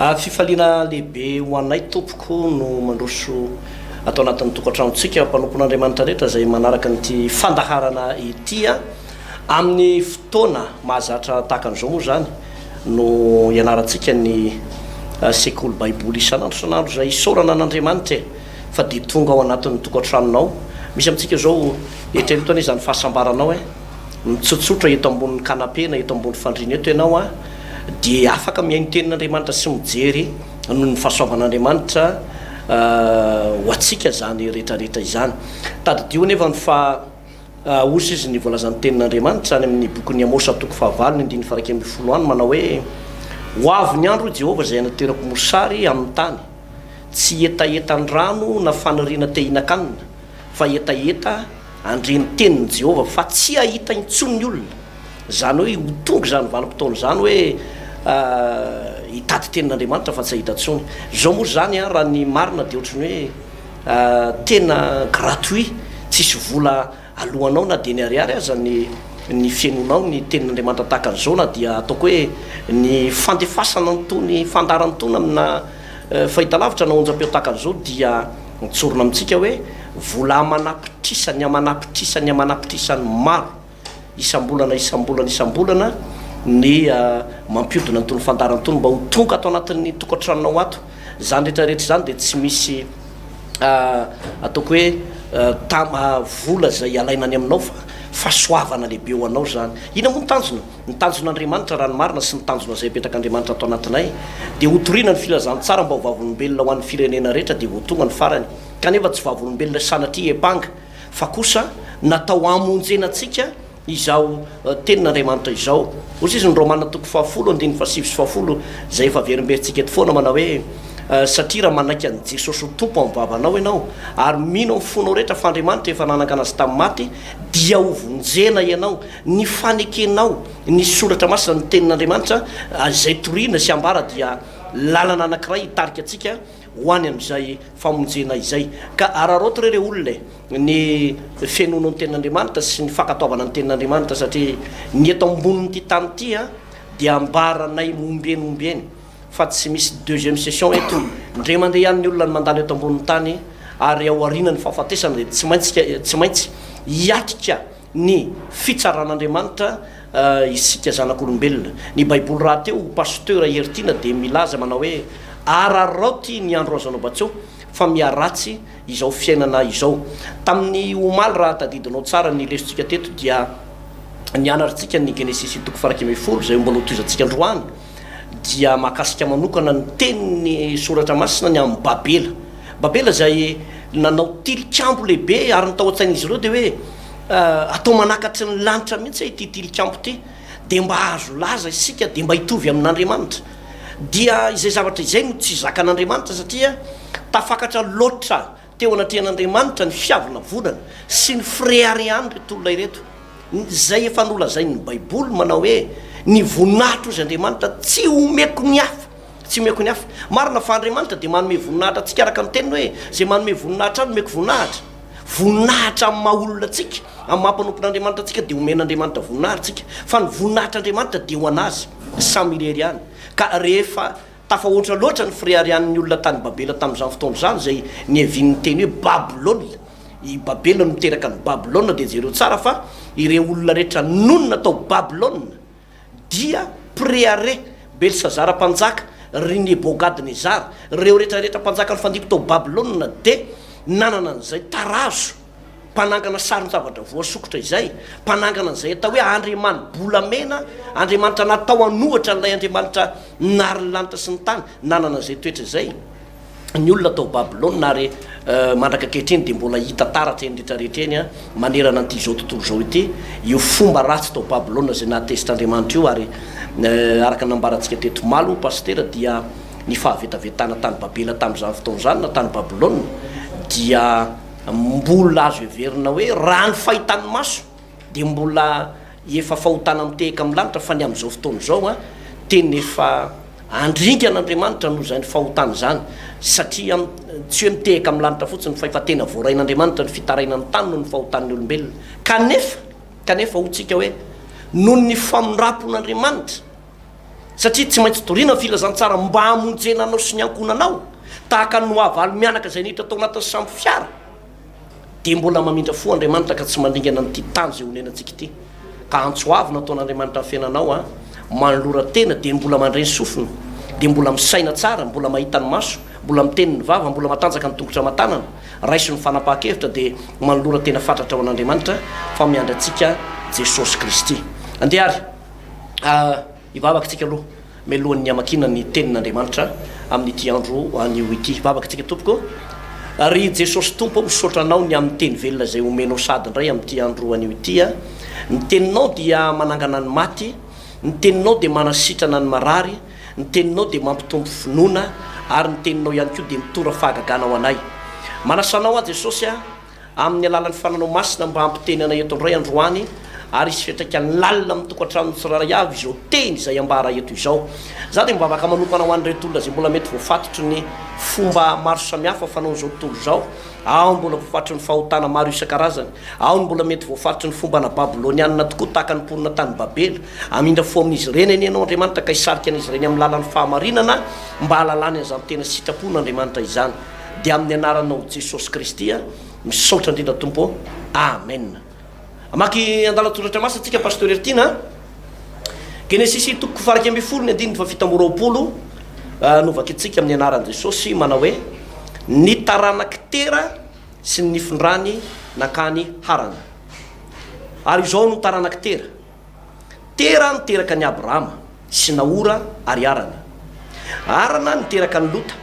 Fifaliana lehibe ho anay tompoko no mandroso ato anatin'ny tokantranontsika mpanompon'Andriamanitra rehetra izay manaraka an'ity fandaharana ity amin'ny fotoana mahazatra tahaka an'izao moa izany no ianarantsika ny sekoly baiboly isan'andro isan'andro izay isaorana an'Andriamanitra e fa dia tonga ao anatin'ny tokantranonao misy amintsika izao hetaheta anie izany fahasambaranao e Mitsotsotra eto ambonin'ny canapé na eto ambony fandriana eto ianao an, dia afaka mihaino tenin'Andriamanitra sy mijery noho ny fahasoavan'Andriamanitra ho antsika izany rehetra rehetra izany. Tadidio anefa ny fa hozy izy ny voalazan'ny tenin'Andriamanitra any amin'ny bokin'i Amosa toko fahavalo ny andininy faha iraika ambin'ny folo any manao hoe, Ho avy ny andro, hoy Jehovah, izay hanaterako mosary amin'ny tany, tsy hetahetan-drano na faniriana te hihinan-kanina, Fa hetaheta handre ny tenin'i Jehovah fa tsy hahita intsony ny olona. Izany hoe ho tonga izany vanim-potoana izany hoe hitady tenin'Andriamanitra fa tsy hahita intsony. Izao moa izany raha ny marina dia ohatry ny hoe tena gratuit, tsisy vola aloanao na dia ny ariary aza ny ny fihainoanao ny tenin'Andriamanitra tahaka an'izao na dia ataoko hoe ny fandefasana an'itony fandaharana itony amina fahitalavitra na onjam-peo tahaka an'izao dia Mitsorona amintsika hoe vola aman'apitrisany aman'apitrisany aman'apitrisany maro isam-bolana isam-bolana isam-bolana ny mampiodina an'itony fandarana itony mba ho tonga ato anatin'ny tokantranonao ato. Izany rehetra rehetra izany dia tsy misy ataoko hoe tam- vola izay alaina any aminao fa fahasoavana lehibe ho anao izany. Inona moa ny tanjona? Ny tanjon'Andriamanitra, raha ny marina, sy ny tanjona izay apetrak'Andriamanitra ato anatinay, dia hotorina ny filazantsara mba ho vavolombelona ho an'ny firenena rehetra dia voatonga ny farany. Kanefa tsy vavolombelona sanatria hiampanga, fa kosa natao hamonjena antsika izao tenin'Andriamanitra izao. Hoy izy, ny Romana toko fahafolo andininy fahasivy sy fahafolo, izay efa averimberintsika eto foana, manao hoe, Satria raha manaiky an'i Jesosy ho Tompo amin'ny vavanao ianao, ary mino amin'ny fonao rehetra fa Andriamanitra efa nanangana azy tamin'ny maty, dia hovonjena ianao. Ny fanekenao ny soratra masina, ny tenin'Andriamanitra, izay toriana sy ambara dia lalana anankiray hitarika antsika ho any amin'izay famonjena izay. Ka araraoty re ireo olona e! ny fenono ny tenin'Andriamanitra sy ny fankatoavana ny tenin'Andriamanitra satria ny eto ambonin'ity tany ity dia ambaranay momba eny momba eny fa tsy misy deuxième session eto, ndre mandeha ihany ny olona no mandalo eto ambonin'ny tany ary ao aorianan'ny fahafatesana dia tsy maintsy hiatrika ny fitsaran'Andriamanitra isika zanak'olombelona. Ny baiboly rahateo, Pasteur Hery Tiana dia milaza manao hoe araraoty ny andro azonao batseho fa miharatsy izao fiainana izao. Tamin'ny omaly raha tadidinao tsara ny lesotsika teto dia nianartsika ny Genesisy toko farakimefolo izay mbola hotohizantsika androany. dia mahakasika manokana ny tenin'ny Soratra Masina ny amin'i Babela. Babela izay nanao tilikambo lehibe, ary ny tao an-tsain'izy ireo dia hoe, Atao manakatry ny lanitra mihitsy aho ity tilikambo ity, dia mba hahazo laza isika, dia mba hitovy amin'Andriamanitra. Dia izay zavatra izay no tsy zakan'Andriamanitra, satria tafakatra loatra. Teo anatrehan'Andriamanitra ny fiavonavonana sy ny fireharehan'ireto olona ireto, izay efa nolazain'ny Baiboly manao hoe, Ny voninahitro, hozy Andriamanitra, tsy omeko ny hafa. Tsy omeko ny hafa. Marina fa Andriamanitra dia manome voninahitra antsika araka ny teniny hoe, Izay manome voninahitra ahy no omeko voninahitra. Voninahitra amin'ny maha olona antsika, amin'ny maha mpanompon'Andriamanitra antsika dia omen'Andriamanitra voninahitra isika. Fa ny voninahitr'Andriamanitra dia ho an'Azy samy irery ihany. Ka rehefa. Tafahoatra loatra ny fireharian'ny olona tany Babela tamin'izany fotoana izany, izay niavian'ny teny hoe Babylona. I Babela no niteraka an'i Babylona, dia jereo tsara fa ireo olona rehetra nonina tao Babylona dia Preare, Belsazara mpanjaka, ry Nebogadnezara. Ireo rehetra rehetra mpanjaka nifandimby tao Babylona dia nanana an'izay tarazo. mpanangana sarin-javatra voasokitra izay, mpanangana an'izay atao hoe andriamani-bolamena, andriamanitra natao an'ohatra an'ilay andriamanitra nary ny lanitra sy ny tany, nanana izay toetra izay ny olona tao Babylona, ary mandraka ankehitriny dia mbola hita taratra eny rehetra rehetra eny manerana an'ity izao tontolo izao ity io fomba ratsy tao Babylona izay nahatezitr-Andriamanitra io, ary araka ny nambarantsika teto omaly Pasitera dia ny fahavetavetana tany Babela tamin'izany fotoana izany na tany Babylona dia Mbola azo heverina hoe raha ny fahitan'ny maso dia mbola efa fahotana mitehaka amin'ny lanitra fa ny amin'izao fotoana izao a tena efa handringa an'Andriamanitra noho izany fahotana izany satria tsy hoe mitehaka amin'ny lanitra fotsiny fa efa tena voarain'Andriamanitra ny fitarainan'ny tany noho ny fahotan'ny olombelona kanefa kanefa hoy tsika hoe noho ny famindrampon'Andriamanitra satria tsy maintsy toriana ny filazantsara mba hamonjena anao sy ny ankohonanao, tahaka ny nohavaly mianaka izay niditra tao anatin'ny samy fiara, dia mbola mamindra fo Andriamanitra ka tsy mandringana an'ity tany izay onenantsika ity, ka antso avo nataon'Andriamanitra ny fiainanao an, manolora tena dia mbola mandre ny sofina, dia mbola misaina tsara, mbola mahita ny maso, mbola miteny ny vava, mbola matanjaka ny tongotra aman-tanana, raiso ny fanapahan-kevitra dia manolora tena fatratra ho an'Andriamanitra fa miandry antsika Jesosy Kristy. Andeha ary. a Ny vavakantsika aloha mialohan'ny hamakiana ny tenin'Andriamanitra amin'ity andro anio ity. Vavakantsika tompoko a Ry Jesosy Tompo aho misaotra Anao ny amin'ny teny velona izay omenao sady indray amin'ity andro anio ity a Ny teninao dia manangana ny maty Ny teninao dia manasitrana ny marary Ny teninao dia mampitombo finoana Ary ny teninao ihany koa dia mitora fahagagana ho anay Manasa Anao aho Jesosy a amin'ny alalan'ny fananao masina mba hampitenenana eto indray androany ary hisy fiantraikany lalina amin'ny tokantranon'ny tsirairay avy izao teny izay ambara eto izao. Izaho dia mivavaka manokana ho an'ireto olona izay mbola mety voafatotry ny fomba maro samihafa fanaon'izao tontolo izao. Ao ny mbola voafatotry ny fahotana maro isan-karazany. Ao ny mbola mety voafatotry ny fomba ana babylonianina tokoa tahaka ny mponina tany Babela. Hamindra fo amin'izy ireny anie ianao Andriamanitra ka hisarika an'izy ireny amin'ny lalan'ny fahamarinana mba hahalalany an'izany tena sitrapon'Andriamanitra izany. dia amin'ny anaranao Jesosy Kristy aho misaotra indrindra Tompo ô! Amen! Hamaky andalan-tsoratra masina tsika Pasteur Hertine a! Genesisy toko faha iraika ambin'ny folo ny andininy faha fito amby roapolo no vakintsika amin'ny anaran'i Jesosy manao hoe ny taranak'i Tera sy ny nifindrany nankany Harana. Ary izao no taranak'i Tera. Tera niteraka an'i Abrahama, sy Nahora ary Harana. Harana niteraka an'i Lota.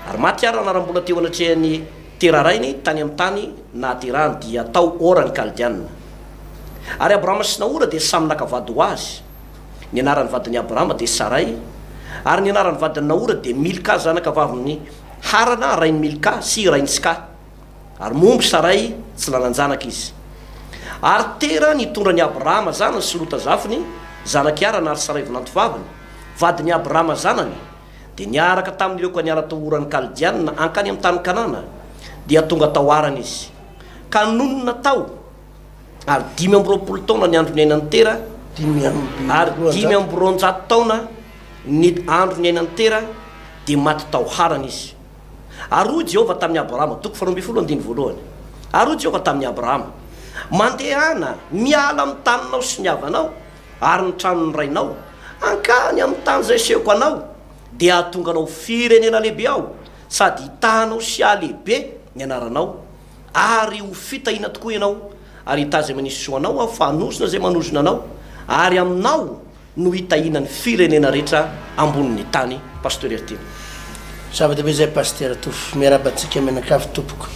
Ary maty Harana raha mbola teo anatrehan'i Tera rainy, tany amin'ny tany nahaterahany, dia tao Ora ny Kaldeanina. Ary Abrahama sy Nahora dia samy naka vady ho azy. Ny anaran'ny vadin'i Abrahama dia Saray, ary ny anaran'ny vadin'i Nahora dia Milka, zanaka vavin'i Harana, rain'i Milka, sy rain'i Ska. Ary momba i Saray, tsy nanan-janaka izy. Ary Tera nitondra an' i Abrahama zanany sy Lota zafiny, zanak' i Harana ary Saray vinantovaviny, vadin' i Abrahama zanany, dia niaraka tamin' ireo ka niala tao Oran' ny Kaldiana hankany amin' ny tany Kanana, dia tonga tao Harana izy, ka nonina tao, ary dimy amby roapolo taona ny andro niainan' i Tera, ary dimy amby roanjato taona ny andro niainan' i Tera, dia maty tao Harana izy. Ary hoy Jehovah tamin'i Abrahama, toko faharoa ambin'ny folo andininy voalohany, Ary hoy Jehovah tamin'i Abrahama, Mandehana, miala amin'ny taninao sy ny havanao ary ny tranon'ny rainao, hankany amin'ny tany izay asehoko anao, dia hahatonga anao ho firenena lehibe Aho, sady hitahanao sy hahalehibe ny anaranao, ary ho fitahiana tokoa ianao, ary hitaha izay manisy soa anao Aho, fa hanozona izay manozona anao, ary aminao no hitahiana ny firenena rehetra ambonin'ny tany Pasteur Heritiana. Zava-dehibe izay Pasitera Tofy. Miarahaba antsika mianakavy tompoko.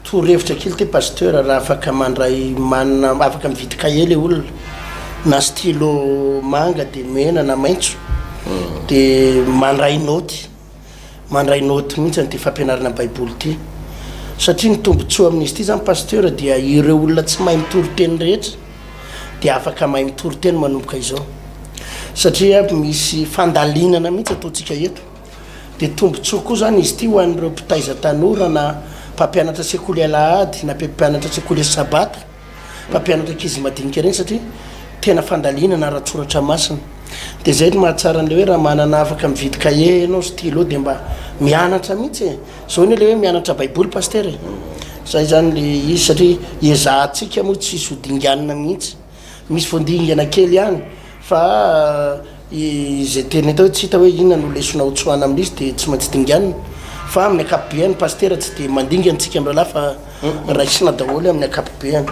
Torohevitra kely ity Pasteur raha afaka mandray manina afaka mividy cahier le olona na stylo manga de mena na maitso de mandray naoty. Mandray note mihitsy an'ity fampianarana baiboly ity. Satria ny tombotsoa amin'izy ity zany Pasteur dia ireo olona tsy mahay mitory teny rehetra dia afaka mahay mitory teny manomboka izao. Satria misy fandalinana mihitsy ataontsika eto. Dia tombotsoa koa zany izy ity ho an'ireo mpitaiza tanora na mpampianatra sekoly alahady na mpampianatra sekoly sabata. Mpampianatra ankizy madinika ireny satria tena fandalinana ara-tsoratra masina. Dia izay no mahatsara an'ilay hoe raha manana afaka mividy cahier ianao, stylo dia mba mianatra mihitsy e! Izao anie ilay hoe mianatra baiboly pasitera e! Izay izany ilay izy satria ezahantsika moa tsy hisy ho dinganina mihitsy. Misy vao dingana kely ihany fa. Izay teny hita hoe tsy hita hoe inona no lesona ho tsoahina amin'izy dia tsy maintsy dinganina. Fa amin'ny ankapobeny ny pasitera tsy dia mandinga antsika mirahalahy fa raisina daholo amin'ny ankapobeny.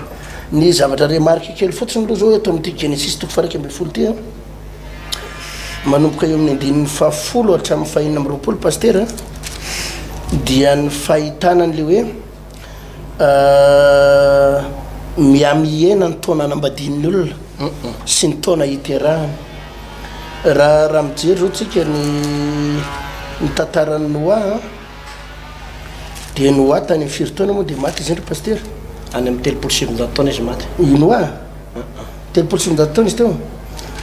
Ny zavatra remarque kely fotsiny aloha izao eto amin'ity Genesisy toko faha iraika ambin'ny folo ity an, manomboka eo amin'ny andininy fahafolo hatramin'ny fahenina amby roapolo pasitera dia ny fahitana an'ilay hoe. Ahh, miha-mihena ny taona anambadian'ny olona sy ny taona hiterahany. Raha, raha mijery zao tsika ny ny tantaran'i Noa an, de Noa tany amin'ny firy taona moa de maty izy ndry Pasitera? Any amin'ny telopolo sy sivinjato taona izy maty. I Noa? Telopolo sy sivinjato taona izy teo?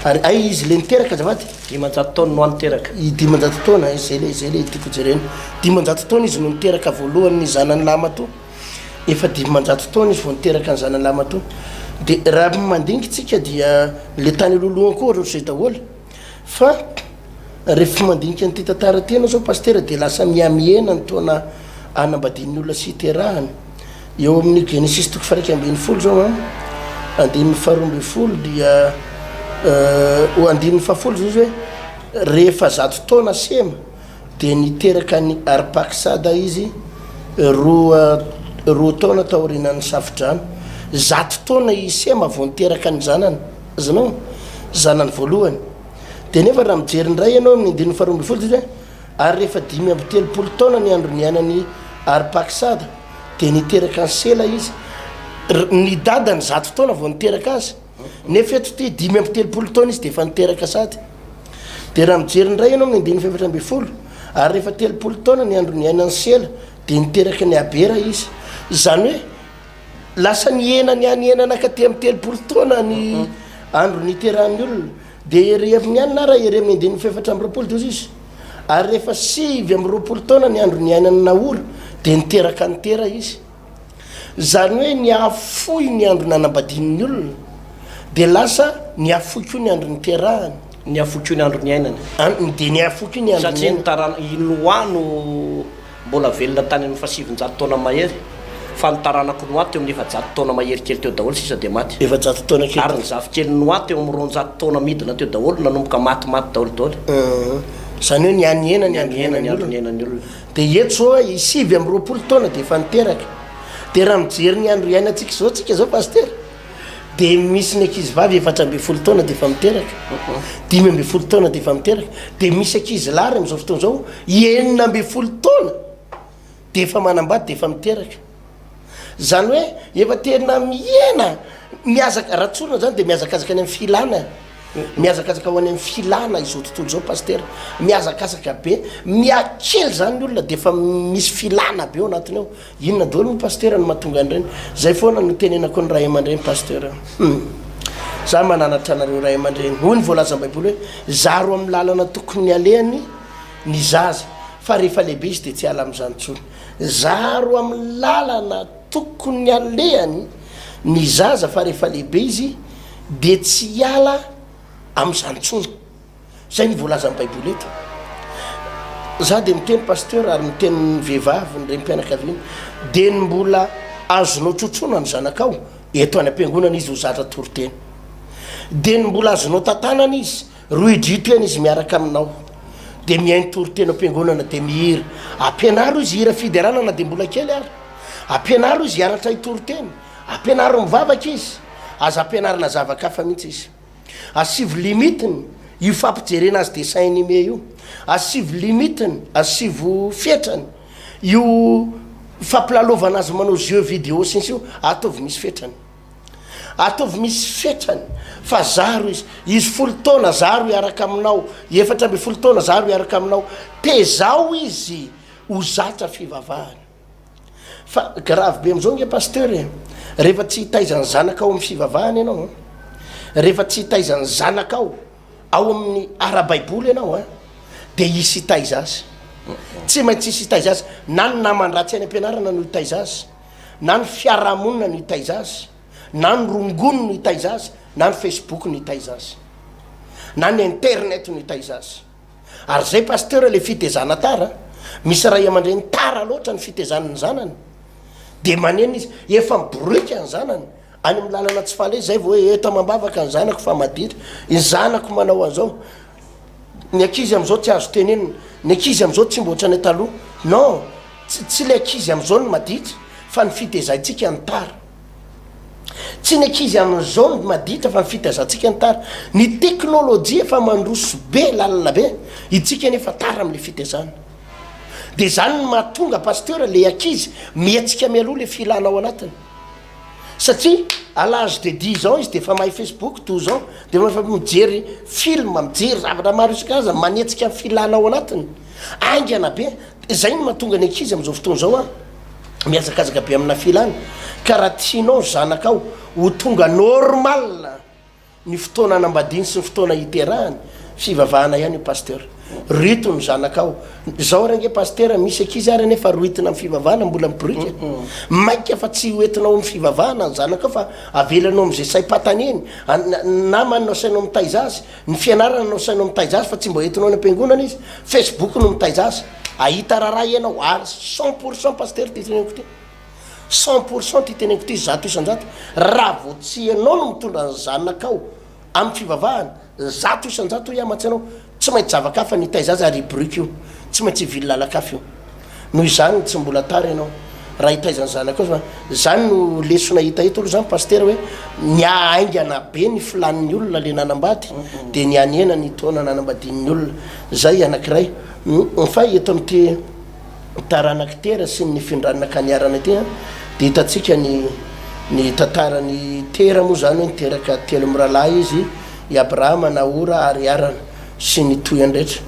Ary aiza izy le niteraka azafady? Dimanjato taona no any teraka. I dimanjato taona eh, zay le zay le tiako jerena. Dimanjato taona izy no niteraka voalohany ny zanany lahimatoa. Efa dimanjato taona izy vao niteraka ny zanany lahimatoa. De raha mandinga tsika dia le tany aloha lohany koa ohatrany zay daholo. Fa rehefa mandinika an'ity tantara ity ianao zao Pasitera dia lasa mihamihena ny taona anambadian'ny olona sy iterahany. Eo amin'ny Genesisy toko faha-iraika ambin'ny folo izao an, andininy faharoa ambin'ny folo dia ho andininy fahafolo izao izy hoe rehefa zato taona Sema dia niteraka an'i Arpaksada izy roa roa taona taorianan'ny Safodrano. Zato taona i Sema vao niteraka ny zanany, azonao? Zanany voalohany. Dia nefa raha mijery indray ianao amin'ny andininy faharoa ambin'ny folo dia izy hoe. Ary rehefa dimy amby telopolo taona ny andro niainan'i Arpaksada, dia niteraka an'i Sela izy. R, Ny dadany zato taona vao niteraka azy, nefa eto ity dimy amby telopolo taona izy dia efa niteraka sady. Dia raha mijery indray ianao amin'ny andininy fahefatra ambin'ny folo, Ary rehefa telopolo taona ny andro niainan'i Sela, dia niteraka an'i Abera izy. Izany hoe, lasa nihena nihanihenana ka te amin'ny telopolo taona ny andro niterahan'ny olona. Dia heriheviny ihany na raha heriheviny andininy fahefatra amby roapolo dia hoy izy, Ary rehefa sivy amby roapolo taona ny andro niainan'i Nahora, dia niteraka an'i Tera izy. Izany hoe nihafohy ny andro nanambadiany ny olona, dia lasa nihafohy koa ny andro niterahany. Nihafohy koa ny andro niainany. An, dia nihafohy koa ny andro niainany. Satria ny tarana, i Noa no. Mbola velona tany amin'ny fahasivinjato taona mahery, fa ny taranak'i Noa teo amin'ny efajato taona mahery kely teo daholo sisa dia maty. Efajato taona kely. Ary ny zafikelin'i Noa teo amin'ny roanjato taona midina teo daholo, nanomboka maty maty daholo daholo. Izany hoe nihanihena ny andro niainan'ny olona. Dia eto izao a, i sivy amby roapolo taona dia efa niteraka. Dia raha mijery ny andro iainantsika izao tsika izao Pasitera, dia misy ny ankizy vavy efatra ambin'ny folo taona dia efa miteraka dimy ambin'ny folo taona dia efa miteraka dia misy ankizy lary amin'izao fotoana izao enina ambin'ny folo taona dia efa manambady dia efa miteraka zany hoe efa tena mihena miazaka raha tsorina zany dia mihazakazaka any amin'ny filana mihazakazaka ho any amin'ny filana izao tontolo izao pastera mihazakazaka be miakely zany ny olona dia efa misy filana be ao anatiny ao Inona daholo ny pasteur no mahatonga an'ireny? Zay foana no tenenako ny ray aman-dreny pasteur a! Hum! Za mananatra anareo ray aman-dreny, hoy ny voalazan'ny baiboly hoe, zaro amin'ny lalana tokony alehany ny zaza, fa rehefa lehibe izy dia tsy hiala amin'izany intsony. Zaro amin'ny lalana tokony alehany ny zaza, fa rehefa lehibe izy dia tsy hiala amin'izany intsony. Zay ny voalazan'ny baiboly eto. Za de miteny pasteur ary miteny ny vehivavy ny renim-pianakaviana de ny mbola azonao trotroina ny zanakao eto any am-piangonana izy ho zatra toriteny de ny mbola azonao tantanana izy rohidrito ihany izy miaraka aminao de mihaino toriteny am-piangonana de mihira ampianaro izy hira fiderana na de mbola kely ary ampianaro izy hianatra hitoriteny ampianaro mivavaka izy aza ampianarina zava-kafa mihitsy izy Asivo limite ny io fampijerena azy dessin anime io. Asivo limite ny, asivo fetrany io fampilalovanà azy manao jeux vidéo sy ny sisa io. Ataovy misy fetrany. Ataovy misy fetrany fa zaro izy. Izy folo taona, zaro hiaraka aminao. Efatra ambin'ny folo taona, zaro hiaraka aminao. Tezaho izy ho zatra fivavahana. Fa grave be amzao nge pasteur e! Rehefa tsy hitaiza ny zanakao amin'ny fivavahana ianao an! Rehefa tsy hitaiza ny zanakao ao amin'ny ara-baiboly ianao an! Dia hisy hitaiza azy! Tsy maintsy hisy hitaiza azy! Na ny naman-dratsy any am-pianarana no hitaiza azy, na ny fiaraha-monina no hitaiza azy, na ny rongony no hitaiza azy, na ny facebook no hitaiza azy, na ny internet no hitaiza azy. Ary zay pasteur le fitezana tara a! Misy ray aman-dreny tara loatra ny fitezany ny zanany de manenina izy, efa miboroika ny zanany any amin'ny lalana tsy fale zay vao hoe eto amam-bavaka ny zanako fa maditra, ny zanako manao an'izao, ny ankizy amin'izao tsy azo tenenina, ny ankizy amin'izao tsy mba ohatran'ny taloha. Non! Tsy tsy le ankizy amin'izao no maditra fa ny fitezaintsika no tara. Tsy ny ankizy amin'izao no maditra fa ny fitaizantsika ny tara. Ny teknolojia efa mandroso be lalina be, itsika anefa tara amin'ilay fitaizana. Dia izany no mahatonga Pasteur ilay ankizy mihetsika mialoha ilay filana ao anatiny. Satria à l'âge de dix ans izy dia efa mahay Facebook, douze ans dia efa efa mijery film, mijery zavatra maro isan-karazany, manetsika ny filana ao anatiny. Haingana be. Dia izay no mahatonga ny ankizy amin'izao fotoana izao a! mihazakazaka be amina filana ka raha tianao ny zanakao ho tonga normal ny fotoana anambadiany sy ny fotoana hiterahany fivavahana ihany io pasteur rito ny zanakao zao ary ange pasteur misy akizy ary anefa roitina amin'ny fivavahana mbola miporika maika fa tsy hoetinao amin'ny fivavahana ny zanakao fa avelanao amin'izay saim-pataneny namany no asainao mitaiza azy Ny fianarana no asainao mitaiza azy fa tsy mba entinao any am-piangonana izy. Facebook no mitaiza azy. Ahita raharaha ianao ary cent pour cent Pasitera ity teneniko ity. Cent pour cent ity teneniko ity zato isan-jato. Raha vao tsy ianao no mitondra ny zanakao amin'ny fivavahana, zato isan-jato hoy aho mantsy anao, tsy maintsy zava-kafa ny hitaiza azy ary i Bruck io tsy maintsy hivily lalan-kafa io. Noho izany tsy mbola tara ianao raha hitaiza ny zanakao fa zany no lesona hita eto aloha zany pasitera hoe ny ahaingana be ny filan'ny olona le nanambady de ny hanena ny taona nanambadian'ny olona zay anakiray hmm, fa eto amin'ity taranak'i tera sy ny findranna ka niarana ity a de hitantsika ny ny tantaran'i tera moa zany hoe niteraka telo miralahy izy i abrahama nahora ary arana sy ny tohany rehetra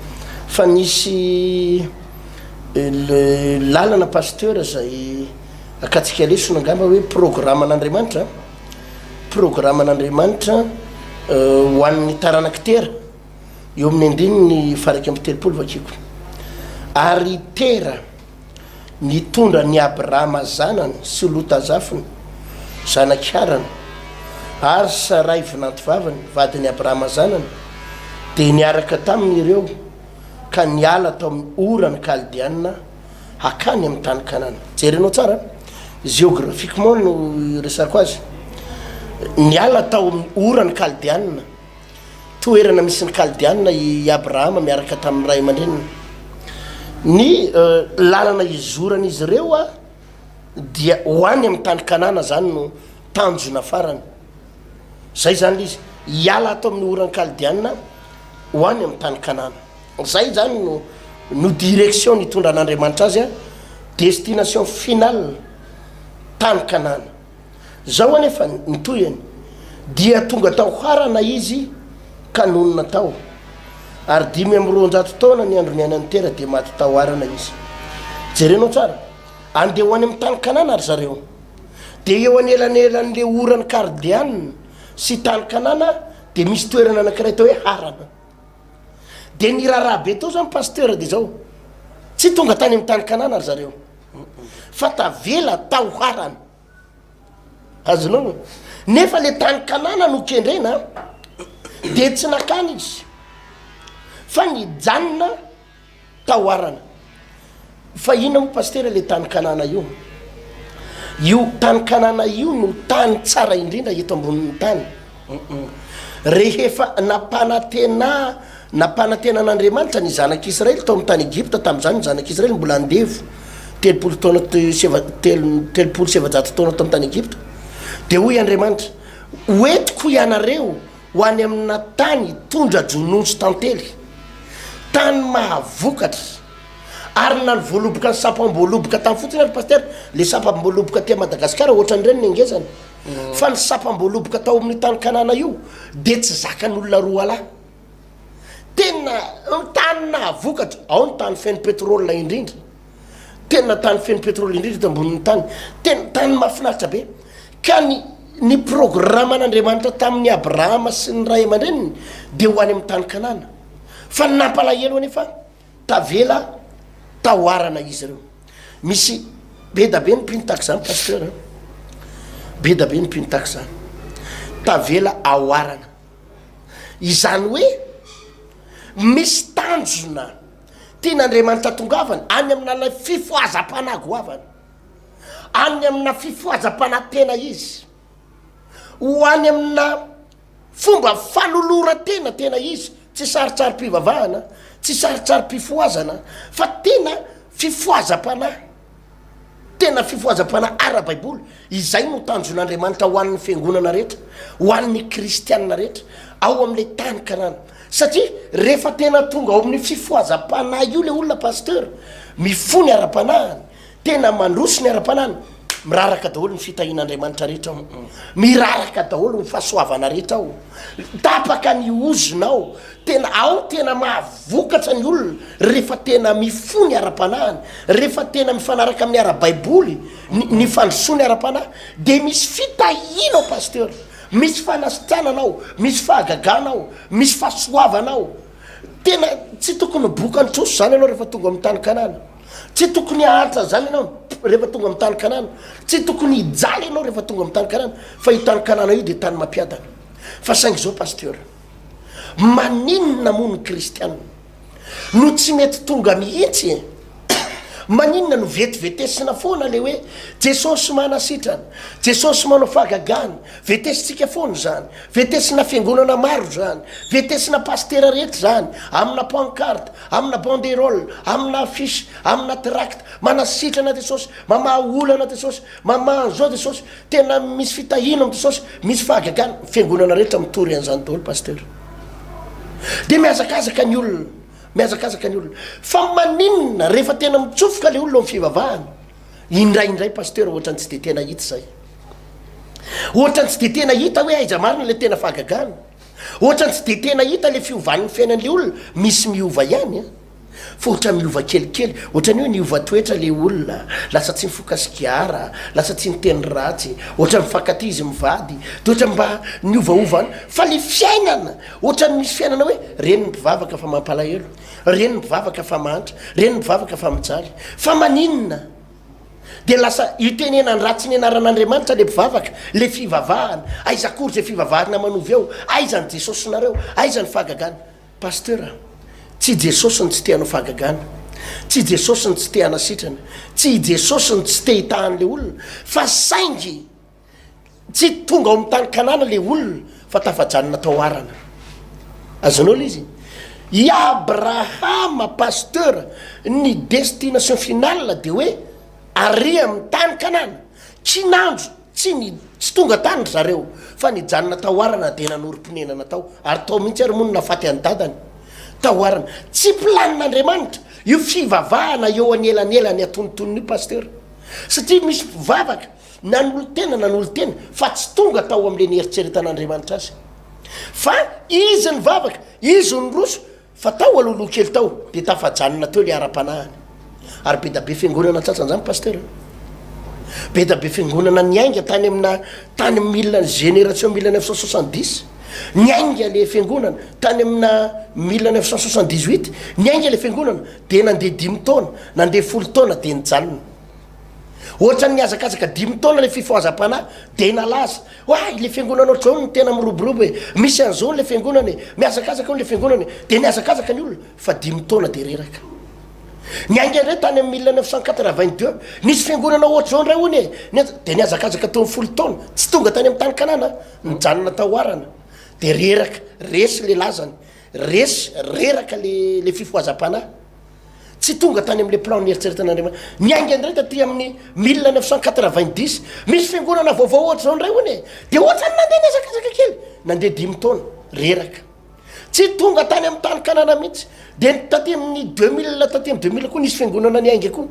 fa nisy Ilay lalana pasteur izay akatsika lesona angamba hoe programan'Andriamanitra an, programan'Andriamanitra ho an'ny taranak'i Tera, eo amin'ny andininy faha-iraika amby telopolo vakiko. Ary i Tera nitondra an'i Abrahama zanany sy Lota zafiny, zanak'i Harana, ary Saray vinantovaviny, vadin'i Abrahama zanany, dia niaraka taminy ireo, ka niala tao amin'ny Ora ny Kaldeanina hakany amin'ny tany Kanana. Jerenao tsara, géographiquement no iresako azy. Niala tao amin'ny Ora ny Kaldeanina, toerana misy ny Kaldeanina i Abrahama miaraka tamin'ny ray aman-dreniny. Ny euh, lalana izoran'izy ireo dia ho any amin'ny tany Kanana, izany no tanjona farany. Izay izany ilay izy, hiala ato amin'ny oran'ny Kaldeana ho any amin'ny tany Kanana. Izay izany no no direction nitondran'Andriamanitra azy, destination finale, tany Kanana. Izao anefa ny tohiny, dia tonga tao Harana izy ka nonina tao. Ary dimy amby roanjato taona ny andro niainan'i Tera dia maty tao Harana izy. Jerenao tsara, andeha ho any amin'ny tany Kanana ry zareo. dia eo anelanelan'le oran'i Kardian sy tany Kanana dia misy toerana anakiray atao hoe Harana dia niraraha be tao zany pasteur dia zao tsy tonga tany amin'ny tany Kanana ry zareo fa tavela tao Harana azonao nefa le tany Kanana no kendrena dia tsy nakany izy fa nijanona taoarana fa inona moa pasitera le tany kanana io io tany kanana io no tany tsara indrindra eto ambonin'ny tany rehefa nampanatena nampanatena an'andriamanitra ny zanak'israely tao amin'ny tany egypta tamin'izany ny zanak'israely mbola andevo telopolo taona telopolo sevajato taona tao amin'ny tany egypta dia hoy andriamanitra hoentiko ianareo Ho any amina tany hitondra jonontsy tantely, tany mahavokatra, ary na ny voaloboka ny sapam-boaloboka tany fotsiny ary Pasitera, le sapam-boaloboka aty Madagascar ohatran'ireny ny angezany, fa ny sapam-boaloboka tao amin'io tany Kanana io dia tsy zakan'olona roalahy, tena tany nahavokatra, ao ny tany feno pétrole indrindra. tena tany feno petrole indrindra eto ambonin'ny tany tena tany mahafinaritra be ka ny ny programan'andriamanitra tamin'ny abrahama sy ny ray aman-dreniny dia ho any amin'ny tany kanana fa ny nampalahelo anefa tavela tahoarana izy ireo misy be da be ny mpino tak izany pasteur eh? be da be ny mpino tak izany tavela ahoarana izany hoe misy tanjona Tian'Andriamanitra atongavana any amin'ilay fifohazam-panahy goavana, any amina fifohazam-panahy tena izy, ho any amina fomba fanoloran-tena tena izy, tsy sarintsarim-pivavahana, tsy sarintsarim-pifohazana, fa tena fifohazam-panahy. Tena fifohazam-panahy ara-baiboly. Izay no tanjon'Andriamanitra ho an'ny fiangonana rehetra, ho an'ny kristiana rehetra, ao amin'ilay tany Kanana. Satria rehefa tena tonga ao amin'ny fifohazam-panahy io ilay olona, Pasteur, mifoha ny ara-panahiny, tena mandroso ny ara-panahiny, miraraka daholo ny fitahian'Andriamanitra rehetra ao. Miraraka daholo ny fahasoavana rehetra ao. Tapaka ny ozona ao. Tena ao tena mahavokatra ny olona rehefa tena mifoha ny ara-panahiny, rehefa tena mifanaraka amin'ny ara-baiboly ny ny fandrosoany ara-panahy dia misy fitahiana ao Pasteur, misy fanasitranana ao, misy fahagagana ao, misy fahasoavana ao. Tena tsy tokony boka ny trosa izany ianao rehefa tonga amin'ny tany Kanana. Tsy tokony haharitra an'izany ianao rehefa tonga amin'ny tany Kanana. Tsy tokony hijaly ianao rehefa tonga amin'ny tany Kanana fa io tany Kanana io dia tany mampiadana. Fa saingy izao Pasteur. Maninona moa ny kristiana no tsy mety tonga mihitsy e? Maninona no vetivetesina foana le hoe Jesosy manasitrana, Jesosy manao fagagana, vetesintsika foana zany, vetesina fiangonana maro zany, vetesina pastera rehetra zany, amina pancarte, amina banderole, amina affiche, amina tract, manasitrana Jesosy, mamaha olana Jesosy, mamaha an'izao Jesosy, Tena misy fitahiana amin'i Jesosy, misy fahagagana, ny fiangonana rehetra mitory an'izany daholo Pasteur. Dia mihazakazaka ny olona, mihazakazaka ny olona. Fa maninona rehefa tena mitsofoka ilay olona ao amin'ny fivavahana, indraindray Pasteur ohatran'ny tsy dia tena hita izay. Ohatran'ny tsy dia tena hita hoe aiza marina ilay tena fahagagana. Ohatran'ny tsy dia tena hita ilay fiovan'ny fiainan'ilay olona, misy miova ihany. Fototra miova kelikely, ohatran'ny hoe niova toetra ilay olona, lasa tsy mifoka sigara, lasa tsy niteny ratsy, ohatran'ny mifankatia izy mivady, dia ohatran'ny mba niovaova any. Fa ilay fiainana, ohatran'ny misy fiainana hoe, reny ny mpivavaka fa mampalahelo, reny ny mpivavaka fa mahantra, reny ny mpivavaka fa mijaly. Fa maninona? Dia lasa itenenan-dratsy ny anaran'Andriamanitra ilay mpivavaka, ilay fivavahana. Aiza akory izay fivavahana manova eo? Aiza ny Jesosinareo? Aiza ny fahagagana? Pasteur a! Tsy i Jesosy no tsy te hanao fahagagana, tsy i Jesosy no tsy te hanasitrana, tsy i Jesosy no tsy te hitaha an'ilay olona, fa saingy tsy tonga ao amin'ny tany Kanana ilay olona fa tafajanona tao Harana. Azonao ilay izy? I Abrahama Pasteur, ny destination finale dia hoe ary amin'ny tany Kanana, kinanjo Tsy ny tsy tonga tany ry zareo fa nijanona taoarana dia nanorim-ponenana tao ary tao mihitsy ary moa no nafaty an'i dadany taoarana. Tsy planin'Andriamanitra io fivavahana eo anelanelany atonontonony io Pasteur satria misy mpivavaka nanolo-tena nanolo-tena fa tsy tonga tao amin'ilay nieritreretan'Andriamanitra azy fa izy nivavaka, izy niroso Fa tao aloha loha kely tao dia tafajanona teo ilay ara-panahiny. Ary be da be fiangonana antsatsan'izany Pasteur a! Be da be fiangonana niainga tany amina tany amin'ny mille ny génération mille neuf cent soixante dix niainga ilay fiangonana, tany amina mille neuf cent soixante dix huit niainga ilay fiangonana dia nandeha dimy taona, nandeha folo taona dia nijanona. Ohatran'ny nihazakazaka dimy taona ilay fifohazam-panahy, dia nalaza hoe, Ay, ilay fiangonanao John no tena miroborobo e! Misy an'izao ilay fiangonana e! Mihazakazaka eo ilay fiangonana e! Dia nihazakazaka ny olona, fa dimy taona dia reraka. Niainga indray tany amin'ny mille neuf cent quatre-vingt-deux, Nisy fiangonana ohatr'izao indray hono e! Nihaza- Dia nihazakazaka teo amin'ny folo taona, tsy tonga tany amin'ny tany Kanana, nijanona tao Harana. Dia reraka, resy ilay lazany, resy, reraka ilay, ilay fifohazam-panahy. Tsy tonga tany amin'ilay plan nieritreretan'Andriamanitra. Niainga indray taty amin'ny 1990. Misy fiangonana vaovao ohatra izao indray hono e. Dia ohatran'ny nandeha nihazakazaka kely. Nandeha dimy taona. Reraka. Tsy tonga tany amin'ny tany Kanana mihitsy. Dia taty amin'ny 2000, taty amin'ny 2000 koa nisy fiangonana niainga koa.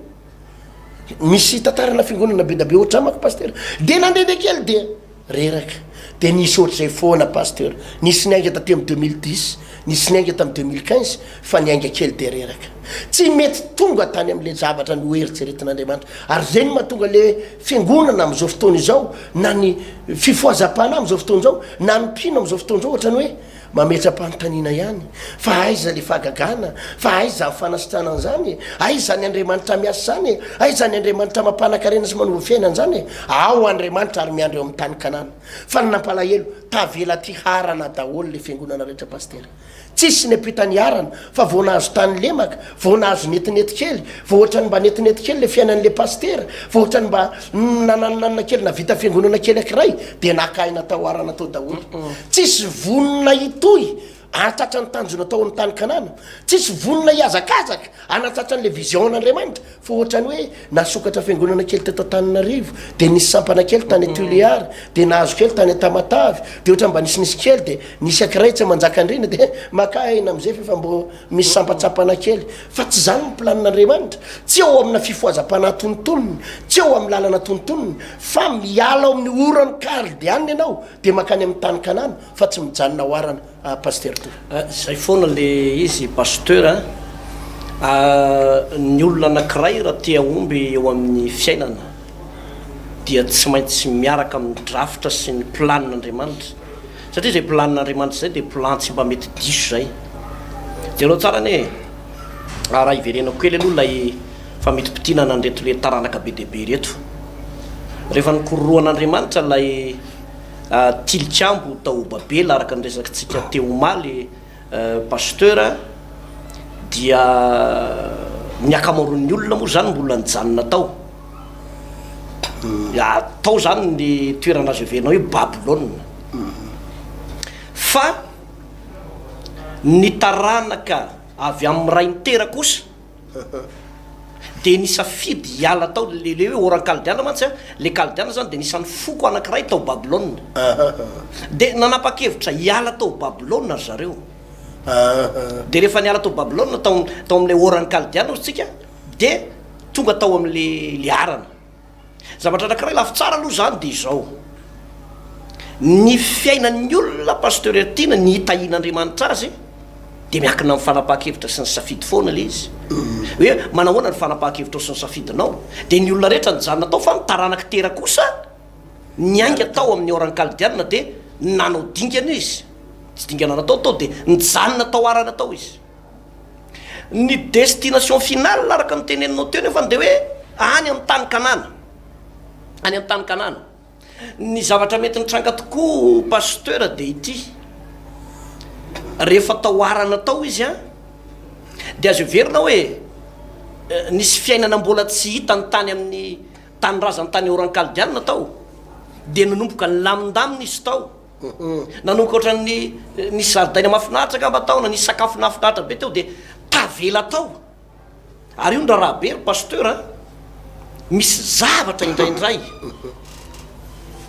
Misy tantarana fiangonana be dia be ohatran'ny amako, Pasitera. Dia nandehandeha kely dia. Reraka. Dia nisy ohatr'izay foana Pasteur. Nisy niainga taty amin'ny deux mille dix, nisy niainga tamin'ny deux mille quinze, fa niainga kely dia reraka. Tsy mety tonga tany amin'ilay zavatra noeritreretin'Andriamanitra. Ary izay no mahatonga ilay Fiangonana amin'izao fotoana izao, na ny fifohazam-panahy amin'izao fotoana izao, na ny mpino amin'izao fotoana izao, ohatran'ny hoe, Mametra-panontaniana ihany fa aiza le fahagagana fa aiza ny fanasitrana an'izany e? Aiza ny Andriamanitra miasa izany e? Aiza ny Andriamanitra mampanakarena sy manova fiainana an'izany e? Ao Andriamanitra ary miandry eo amin'ny tany Kanana. Fa ny nampalahelo, tavela aty harana daholo le fiangonana rehetra Pasitera. Tsisy ny ampitany harana fa vao nahazo tany lemaka Vao nahazo netinety kely, vao ohatrany mba netinety kely le fiainan'le Pasitera, vao ohatrany mba nananonanona kely navita fiangonana kely akiray dia naka aina tao arana tao daholo. Tsisy vonona hitohy hahatratra ny tanjona tao amin'ny tany Kanana, tsisy vonona hihazakazaka hanatratra an'le vision an'Andriamanitra fa ohatrany hoe nasokatra fiangonana kely teto Antananarivo, dia nisy sampana kely tany Tuléar, dia nahazo kely tany Tamatave, dia ohatrany mba nisinisy kely dia nisy akiray tsy manjaka andriana dia maka aina amzay f'efa mbo Misy sampantsampana kely, fa tsy izany ny planin'Andriamanitra, tsy eo amina fifohazam-panahy tonontonony, tsy eo amin'ny lalana tonontonony, fa miala ao amin'ny oran'i Kaldeana ianao dia mankany amin'ny tany Kanana, fa tsy mijanona ao Harana, ah, Pasitera Toa. Ah, izay foana ilay izy, Pasteur a! Ah, ny olona anankiray raha te hahomby eo amin'ny fiainana, dia tsy maintsy miaraka amin'ny drafitra sy ny planin'Andriamanitra. Satria izay plan Andriamanitra izay dia plan tsy mba mety diso izay. Jereo tsara anie e! Raha hiverenako kely aloha ilay famintimpitiana an'ireto le taranaka be dia be ireto. Rehefa nikororohan' Andriamanitra ilay tilikambo tao Babela araka ny resakintsika teo omaly, Pasteur a, dia ny akamaroan'ny olona moa zany mbola nijanona tao, tao zany ny toerana azo heverina hoe Babylona, fa ny taranaka avy amin'ny ray nitera kosa, Dia nisafidy hiala tao, le le hoe oran-kaldiana mantsy an, le kaldiana izany dia anisan'ny foko anankiray tao Babylona. Dia nanapa-kevitra hiala tao Babylona ry zareo. Dia rehefa niala tao Babylona, tao, tao amin'ilay oran-kaldiana, hoy isika, dia tonga tao amin'ilay, ilay arana. Zavatra anankiray lafy tsara aloha izany dia izao, ny fiainan'ny olona Pasteur Tiana ny hitahian'Andriamanitra azy dia miankina amin'ny fanapahan-kevitra sy ny safidy foana ilay izy. Hoe manahoana ny fanapahan-kevitrao sy ny safidinao? Dia ny olona rehetra nijanona tao fa ny taranak'i Tera kosa niainga tao amin'ny Oran Kaldiana dia nanao dingana izy, tsy dingana natao tao, dia nijanona tao arany tao izy. Ny destination finale araka ny teneninao teo nefany dia hoe any amin'ny tany Kanana, any amin'ny tany Kanana. Ny zavatra mety nitranga tokoa Pasteur dia ity, rehefa taoarana tao izy an, dia azo heverina hoe nisy fiainana mbola tsy hitany tany amin'ny tanindrazany tany Oran-Kaldiana tao, dia nanomboka nilamindamina izy tao. Nanokatra ny nisy zaridaina mahafinaritra angamba tao, na nisy sakafo nahafinaritra be teo dia tavela tao. Ary io ny raharaha be ry Pasteur a! Misy zavatra indraindray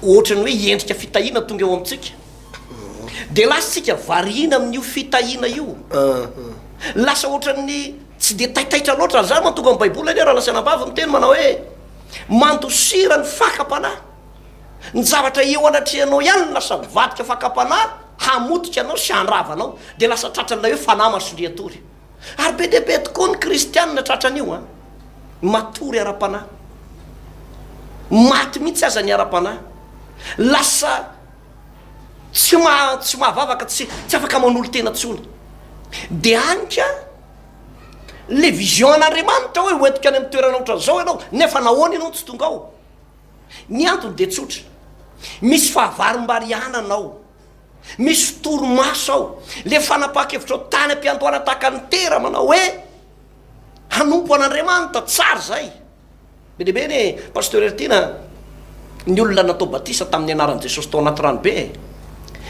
ohatran'ny hoe endrika fitahiana tonga eo amintsika. Dia lasa isika variana amin'io fitahiana io. Lasa ohatran'ny tsy dia taitaitra loatra. Ary izany mantonga ny Baiboly anie raha lasanabavy miteny manao hoe mandosira ny fakam-panahy. Ny zavatra eo anatrehanao ihany no lasa mivadika fakam-panahy hamotika anao sy handrava anao, dia lasa tratran'ilay hoe fanahy masolihatory. Ary be dia be tokoa ny kristiana tratran'io an! Matory ara-panahy. Maty mihitsy aza ny ara-panahy. Lasa tsy maha, tsy mahavavaka, tsy, tsy afaka manolo-tena intsony. Dia any ka ilay vision an'Andriamanitra hoe hoentiko any amin'ny toerana ohatran'izao ianao, nefa nahoana ianao no tsy tonga ao? Ny antony dia tsotra, misy fahavarimbarianana ao, misy torimaso ao. Ilay fanapahan-kevitrao tany am-piandohana tahaka ny tera manao hoe hanompo an'Andriamanitra, tsara izay. Be dia be anie Pasteur Heritiana ny olona natao batisa tamin'ny anaran'i Jesosy tao anaty ranobe e.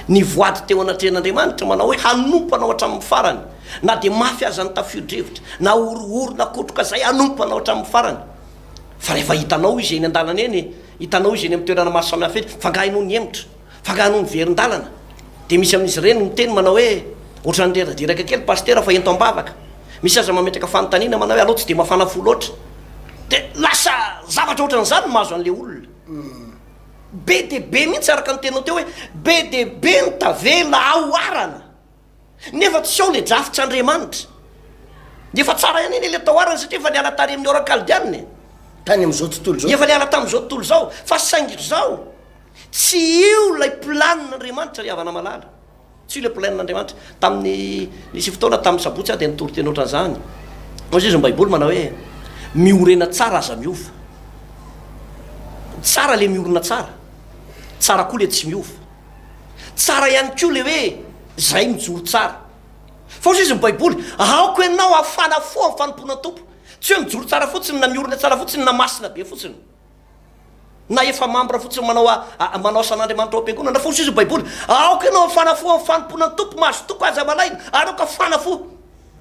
Nivoady teo anatrehan'Andriamanitra manao hoe hanompo anao hatramin'ny farany, na dia mafy aza ny tafio-drivotra, na horohoro na kotroka izay hanompo anao hatramin'ny farany. Fa rehefa hitanao izy eny an-dalana eny, hitanao izy eny amin'ny toerana maro samihafa eny, fa angaha ianao nihemotra? Fa angaha ianao niverin-dalana? Dia misy amin'izy ireny miteny manao hoe, Ohatran'ny reradreraka kely Pasitera fa ento am-bavaka. Misy aza mametraka fanontaniana manao hoe, Alao tsy dia mafana fo loatra. Dia lasa zavatra ohatran'izany no mahazo an'ilay olona. Be dia be mihitsy, araka ny teninao teo hoe, be dia be ny tavela haoharana. Nefa tsy ao le drafts Andriamanitra. Dia efa tsara ihany anie le taoarany satria efa niala tany amin'ny ora kaldianina e. Tany amin'izao tontolo izao. Efa niala tamin'izao tontolo izao. Fa saingy ry zao, tsy io ilay planin'Andriamanitra ry havana malala. Tsy io ilay planin'Andriamanitra. Tamin'ny, nisy fotoana tamin'ny sabotsy aho dia nitory teny ohatran'izany. Hoy izy ny baiboly manao hoe, miorena tsara aza miova. Tsara le miorina tsara. Tsara koa le tsy miova. Tsara ihany koa ilay hoe izay mijoro tsara. Fa hoy izy ny Baiboly, Aoka ianao hafana fo amin'ny fanompoana ny Tompo. Tsy hoe mijoro tsara fotsiny, na miorina tsara fotsiny, na masina be fotsiny, na efa mambra fotsiny manao manao asan'Andriamanitra ao am-piangonana. Fa hoy izy ny Baiboly, Aoka ianao hafana fo amin'ny fanompoana ny Tompo, mahazo toky aza malaina, ary aoka hafana fo.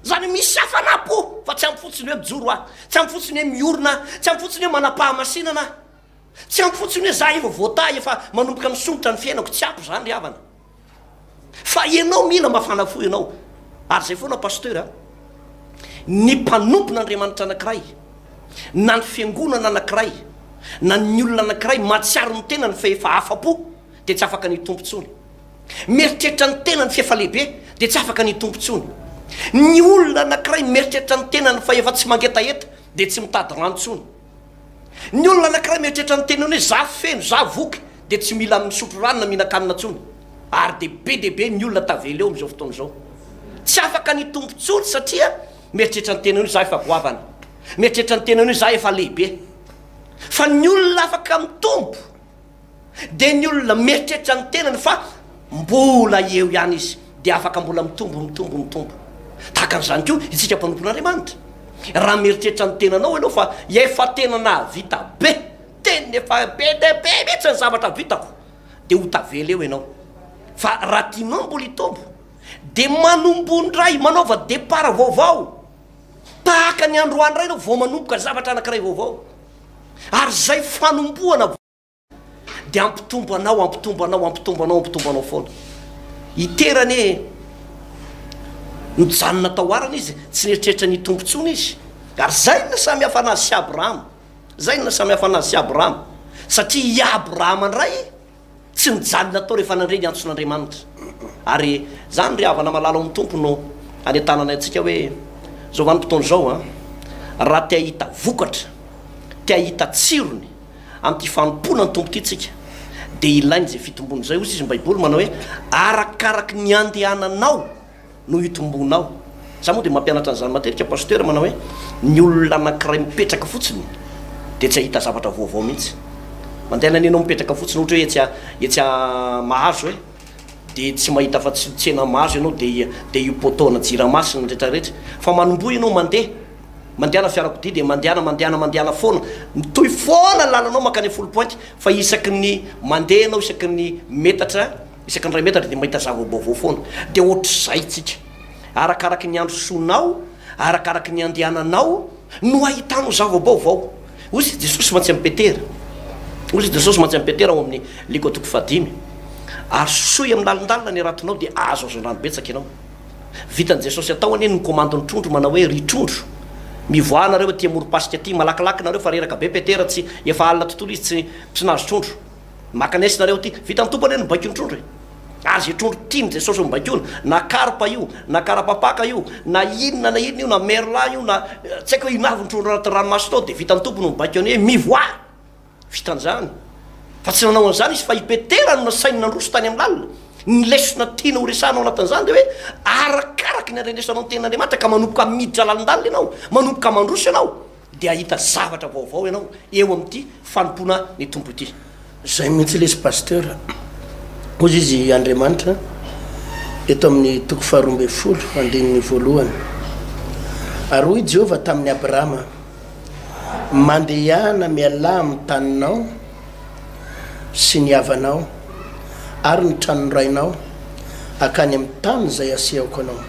Izany hoe misy hafanam-po, fa tsy amin'ny fotsiny hoe mijoro aho, tsy amin'ny fotsiny hoe miorina aho, tsy amin'ny fotsiny hoe manam-pahamasinana aho, Tsy ampy fotsiny hoe za efa voatahy efa manomboka misondrotra ny fiainako tsy ampy zany ry havana fa ianao mila mafana fo ianao ary zay foana pasteur a ny mpanompon'Andriamanitra anankiray na ny fiangonana anankiray na ny olona anankiray mahatsiaro ny tenany fa efa afa-po dia tsy afaka ny hitompo intsony mieritreritra ny tenany fa efa lehibe dia tsy afaka ny hitompo intsony ny olona anankiray mieritreritra ny tenany fa efa tsy mangetaheta dia tsy mitady rano intsony Ny olona anankiray mieritreritra ny teniny hoe za feno, za voky dia tsy mila misotro rano na mihinan-kanina intsony. Ary dia be dia be ny olona tavela eo amin'izao fotoana izao. Tsy afaka ny hitombo intsony satria mieritreritra ny tenany hoe za efa goavana, mieritreritra ny tenany hoe za efa lehibe. Fa ny olona afaka mitombo dia ny olona mieritreritra ny tenany fa mbola eo ihany izy dia afaka mbola mitombo, mitombo, mitombo. Tahaka an'izany koa isika mpanompon'Andriamanitra. Raha mieritreritra ny tenanao ianao fa efa tena nahavita be, tena efa be dia be mihitsy ny zavatra vitako, dia ho tavela eo ianao. Fa raha tianao mbola hitombo, dia manomboha indray, manaova départ vaovao. Tahaka ny androany iray ianao vao manomboka zavatra anankiray vaovao, ary izay fanombohana vaovao dia hampitombo anao, hampitombo anao, hampitombo anao, hampitombo anao foana. I Tera anie nijanona tao Harana izy, tsy nieritreritra ny hitombo intsony izy. Ary izay no nahasamihafa anazy sy Abrahama, izay no nahasamihafa anazy sy Abrahama, satria i Abrahama indray, Tsy nijanona tao rehefa nandre ny antson'Andriamanitra. Ary izany ry havana malala ao amin'ny Tompo no anentanana antsika hoe, izao vanim-potoana izao an, raha te hahita vokatra, te hahita tsirony amin'ity fanompoana ny Tompo ity isika dia ilaina izay fitombony izay. Hoy sisa ny Baiboly manao hoe, arakaraky ny andehananao. no hitombonao. Za moa dia mampianatra an'izany matetika Pasteur manao hoe ny olona anankiray mipetraka fotsiny dia tsy ahita zavatra vaovao mihitsy. Mandeha any anenao mipetraka fotsiny ohatra hoe etsy a etsy a Mahazo e dia tsy mahita afa tsy tsena Mahazo ianao dia dia io poteau ana Jirama sy ny rehetra rehetra. Fa manomboha ianao mandeha, mandehana fiarakodia dia mandehana mandehana mandehana foana. Mitohy foana ny lalanao mankany am foulpointe fa isaky ny mandeha ianao isaky ny metatra Isaky ny iray metatra dia mahita zava-baovao foana. Dia hoatr'izay isika. Arakaraky ny androsonao, arakaraky ny andehananao no ahitanao zava-baovao. Hoy i Jesosy mantsy amin'i Petera, hoy i Jesosy mantsy amin'i Petera ao amin'ny Liko toko fahadimy, Arosoy amin'ny lalindalina ny ratinao dia hahazo hazandrano betsaka ianao. Vitan'i Jesosy atao anie ny komandy ny trondro manao hoe, Ry trondro, mivoaha nareo aty amorom-pasika aty, malakilaky nareo fa reraka be Petera tsy, efa alina tontolo izy tsy, tsy nahazo trondro. Maka nex nareo ty. Vitan'ny Tompo anie ny baikon'ny trondro e. Ary ze trondro tian'i Jesosy ho baikoina, na karpa io, na karapapaka io, na inona na inona io, na merlan io, na tsy haiko hoe inona avy ny trondro anaty ranomasina ao dia vitan'ny Tompo no mibaiko anie, mivoaha! Vitan'izany. Fa tsy nanao an'izany izy fa i Petera no nasainy nandroso tany amin'ny lalina. Ny lesona tiany horesahana ao anatin'izany dia hoe arakaraka ny handrenesanao ny tenin'Andriamanitra ka manomboka miditra lalindalina ianao, manomboka mandroso ianao. Dia hahita zavatra vaovao ianao eo amin'ity fanompoana ny Tompo ity. Izay mihitsy lesy Pasteur. Hoy izy Andriamanitra eto amin'ny toko faharoa ambin'ny folo andininy voalohany. Ary hoy Jehovah tamin'i Abrahama, Mandehana mialà amin'ny taninao, sy ny havanao ary ny tranon'ny rainao hankany amin'ny tany izay hasehoko anao,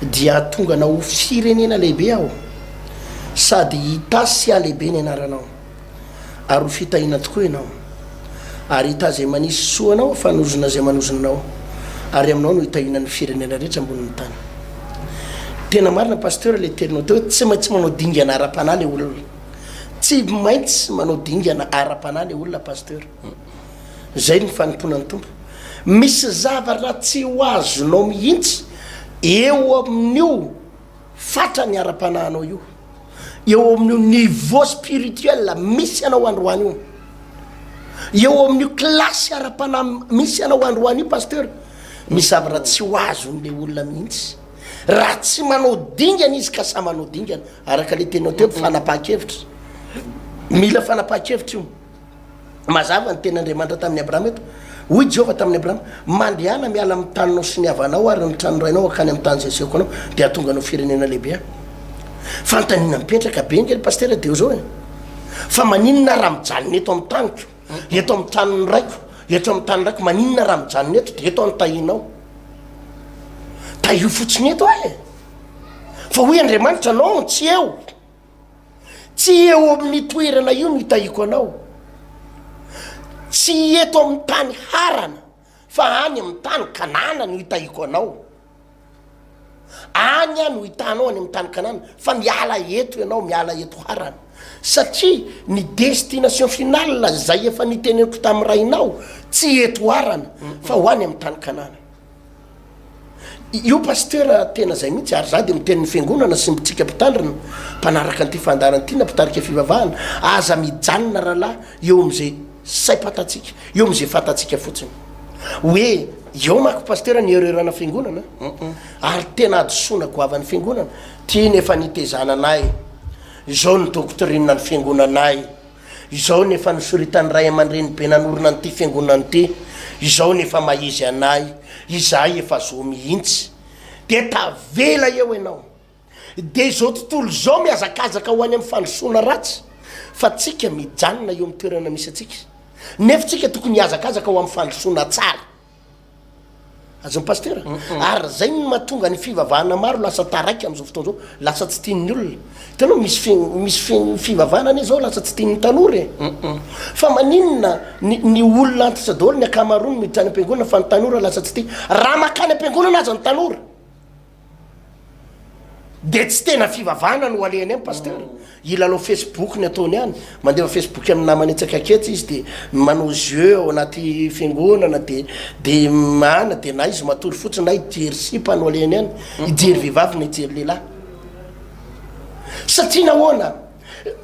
dia hahatonga anao ho firenena lehibe Aho, sady hitasy sy hahalehibe ny anaranao, ary ho fitahiana tokoa ianao. Ary hitahy izay manisy soa anao ho fanozona izay manozona anao, ary aminao no hitahiana ny firenena rehetra ambonin'ny tany. Tena marina Pasteur le terinao teo hoe tsy maintsy manao dingana ara-panahy le olona. Tsy maintsy manao dingana ara-panahy le olona Pasteur. Zay ny fanompoana ny Tompo. Misy zavatra tsy ho azonao mihitsy eo amin'io fatrany ara-panahinao io, eo amin'io niveau spirituel misy anao androany io, eo amin'io classe ara-panahy misy anao androany io Pasteur. Misy zavatra tsy ho azon'le olona mihitsy. raha tsy manao dingana izy ka sa manao dingana araka le tenao teo fanapaha-kevitra mila fanapaha-kevitra io mazava ny tena andriamanitra tamin'ny abrahama eto hoy jehovah tamin'ny abrahama mandehana miala amin'ny taninao sy ny havanao ary ny tranorainao akany amin'ny tany zeseko anao dia atonga anao firenena lehibe fantaniana mipetraka be nge ny pastera de eo zao e fa maninona raha mijanona eto amin'ny taniko Eto amin'ny tanin'ny raiko, eto amin'ny tanin'ny raiko, maninona raha mijanona eto dia eto aho no tahinao? Tahiho fotsiny eto aho e! Fa hoy Andriamanitra, non, tsy eo! Tsy eo amin'ny toerana io no hitahiako anao, tsy eto amin'ny tany harana Fa any amin'ny tany Kanana no hitahiako anao. Any aho no hitanao any amin'ny tany Kanana, fa miala eto ianao, miala eto Harana. Satria ny destination finale izay efa niteneniko tamin'ny rainao, tsy eto Harana, fa ho any amin'ny tany Kanana. Io Pasteur tena zay mihitsy ary za de miteny ny fiangonana sy ntsika mpitandrina mpanaraka an'ity fandaharana ity na mpitarika fivavahana aza mijanona rahalahy eo am'ze saim-pantatsika eo am'ze fantatsika fotsiny hoe eo mako Pasteur ny erreur-na fiangonana ary tena hadisoana goavan'ny fiangonana ty ny efa nitezana anay zao ny doctrine ny fiangonanay Izao ny efa nosoritan'ny ray aman-dreny be nanorina an'ity fiangonana ity, izao ny efa maha-izy anay, izahay efa zo mihitsy. Dia tavela eo ianao. Dia izao tontolo izao mihazakazaka ho any amin'ny fandrosoana ratsy, fa tsika mijanona eo amin'ny toerana misy antsika. Nefa tsika tokony hihazakazaka ho amin'ny fandrosoana tsara. Azon'ny Pasitera? Ary zay no mahatonga ny fivavahana maro lasa taraiky amin'izao fotoana izao, lasa tsy tian'ny olona. Hitanao misy misy fivavahana anie zao lasa tsy tian'ny tanora e! Fa maninona ny ny olona antitra daholo ny ankamaroany miditra any am-piangonana fa ny tanora lasa tsy tia. Raha makany am-piangonana aza ny tanora! Dia tsy tena fivavahana no alehany any Pasteur? Hilalao Facebook ny ataony any, mandefa Facebook amin'ny namany etsy akaketsy izy dia manao jeux ao anaty fiangonana dia dia an dia na izy matory fotsiny na hijery sipa no alehany any, hijery vehivavy na hijery lehilahy. Satria nahoana?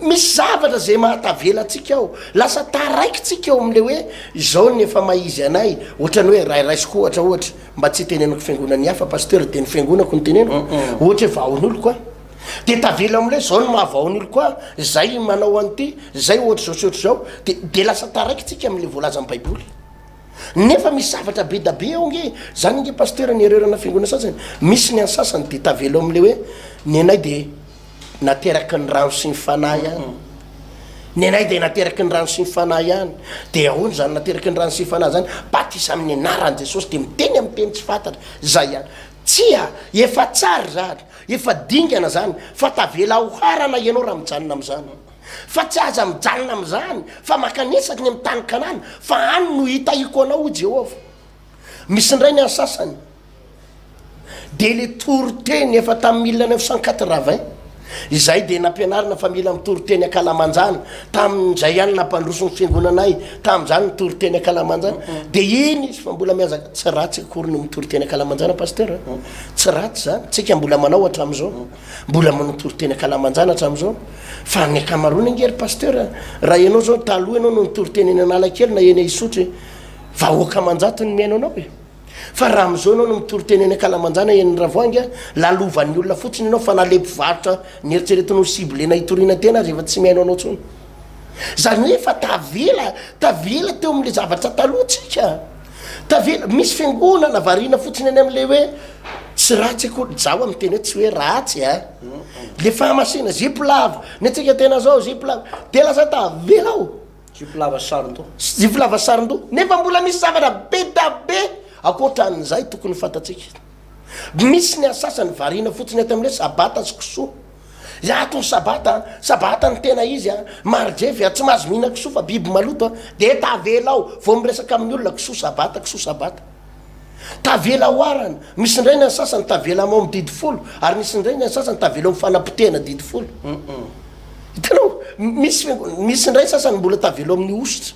Misy zavatra izay mahatavela antsika ao, lasa taraikitsika eo amin'ilay hoe izao ny efa maha izy anay, ohatrany hoe raha raisiko ohatra ohatra, mba tsy hitenenako fiangonan'ny hafa Pasteur dia ny fiangonako no teneniko, ohatra hoe vahaon'oloko aho, dia tavela amin'ilay hoe izao ny maha vahaon'oloko ahy, izay manao an'ity, izay ohatr'izao sy ohatr'izao, dia dia lasa taraikitsika amin'ilay voalazan'ny baiboly. Nefa misy zavatra be da be ao nge zany ange pasteur ny erreur-na fiangonana sasany misy ny an'ny sasany de tavela ao amin'le hoe ny anay de nateraky ny rano sy ny fanahy ihany ny anay de nateraky ny rano sy ny fanahy ihany de ahoana zany nateraky ny rano sy ny fanahy zany batisa amin'ny anaran'i Jesosy de miteny amin'ny teny tsy fantatra zay ihany tsia efa tsara zany efa dingana zany fa tavela aoharana ianao raha mijanona amin'izany Fa tsy aza mijanona amin'izany, fa mankany isaky ny amin'ny tany Kanana, fa any no hitahiko anao, hoy Jehovah. Misy indray ny an'ny sasany, dia ilay toriteny efa tamin'ny mille neuf cent quatre-vingt, izahay dia nampianarina fa mila mitory teny an-kalamanjana, tamin'izay ihany nampandroso ny fiangonanay, tamin'izany ny tory teny an-kalamanjana, dia iny izy fa mbola mihazaka, tsy ratsy akory ny mitory teny an-kalamanjana Pasteur a, tsy ratsy izany, tsika mbola manao hatramin'izao. Mbola manontolo teny an-kalamanjana hatramin'izao. Fa ny ankamaroany ange ry pasteur, raha ianao izao taloha ianao no nitory teny eny Analakely na eny Isotry, vahoaka aman-jatony mihaino anao e. Fa raha amin'izao ianao no mitory teny eny ankalamanjana eny Ravoahangy, lalovan'ny olona fotsiny ianao fa na ilay mpivarotra nieritreretiny ho ciblena hitoriana teny aza efa tsy mihaino anao intsony. Izany hoe efa tavela, tavela teo amin'ilay zavatra taloha tsika. Tavela, misy fiangonana variana fotsiny any amin'ilay hoe tsy ratsy akory, izaho amin'ny teny hoe tsy hoe ratsy a, ilay fahamasina zipo lava, ny antsika tena izao zipo lava, dia lasa tavela aho. Zipo lava saron-doha. Zipo lava saron-doha, nefa mbola misy zavatra be dia be ankoatran'izay tokony fantatsika. Misy ny an'ny sasany variana fotsiny ato amin'ny hoe sabata sy kisoa. Iato ny sabata an! Sabata ny tena izy an! Marijevy an! Tsy mahazo mihinana kisoa fa biby maloto an! Dia tavela ao vao miresaka amin'ny olona kisoa sabata kisoa sabata! Tavela ao arany! Misy indray ny an'ny sasany tavela am ao amin'ny didy folo ary misy indray ny an'ny sasany tavela ao amin'ny fanapotehana didy folo. Hitanao? Misy, misy indray sasany mbola tavela ao amin'ny hosotra.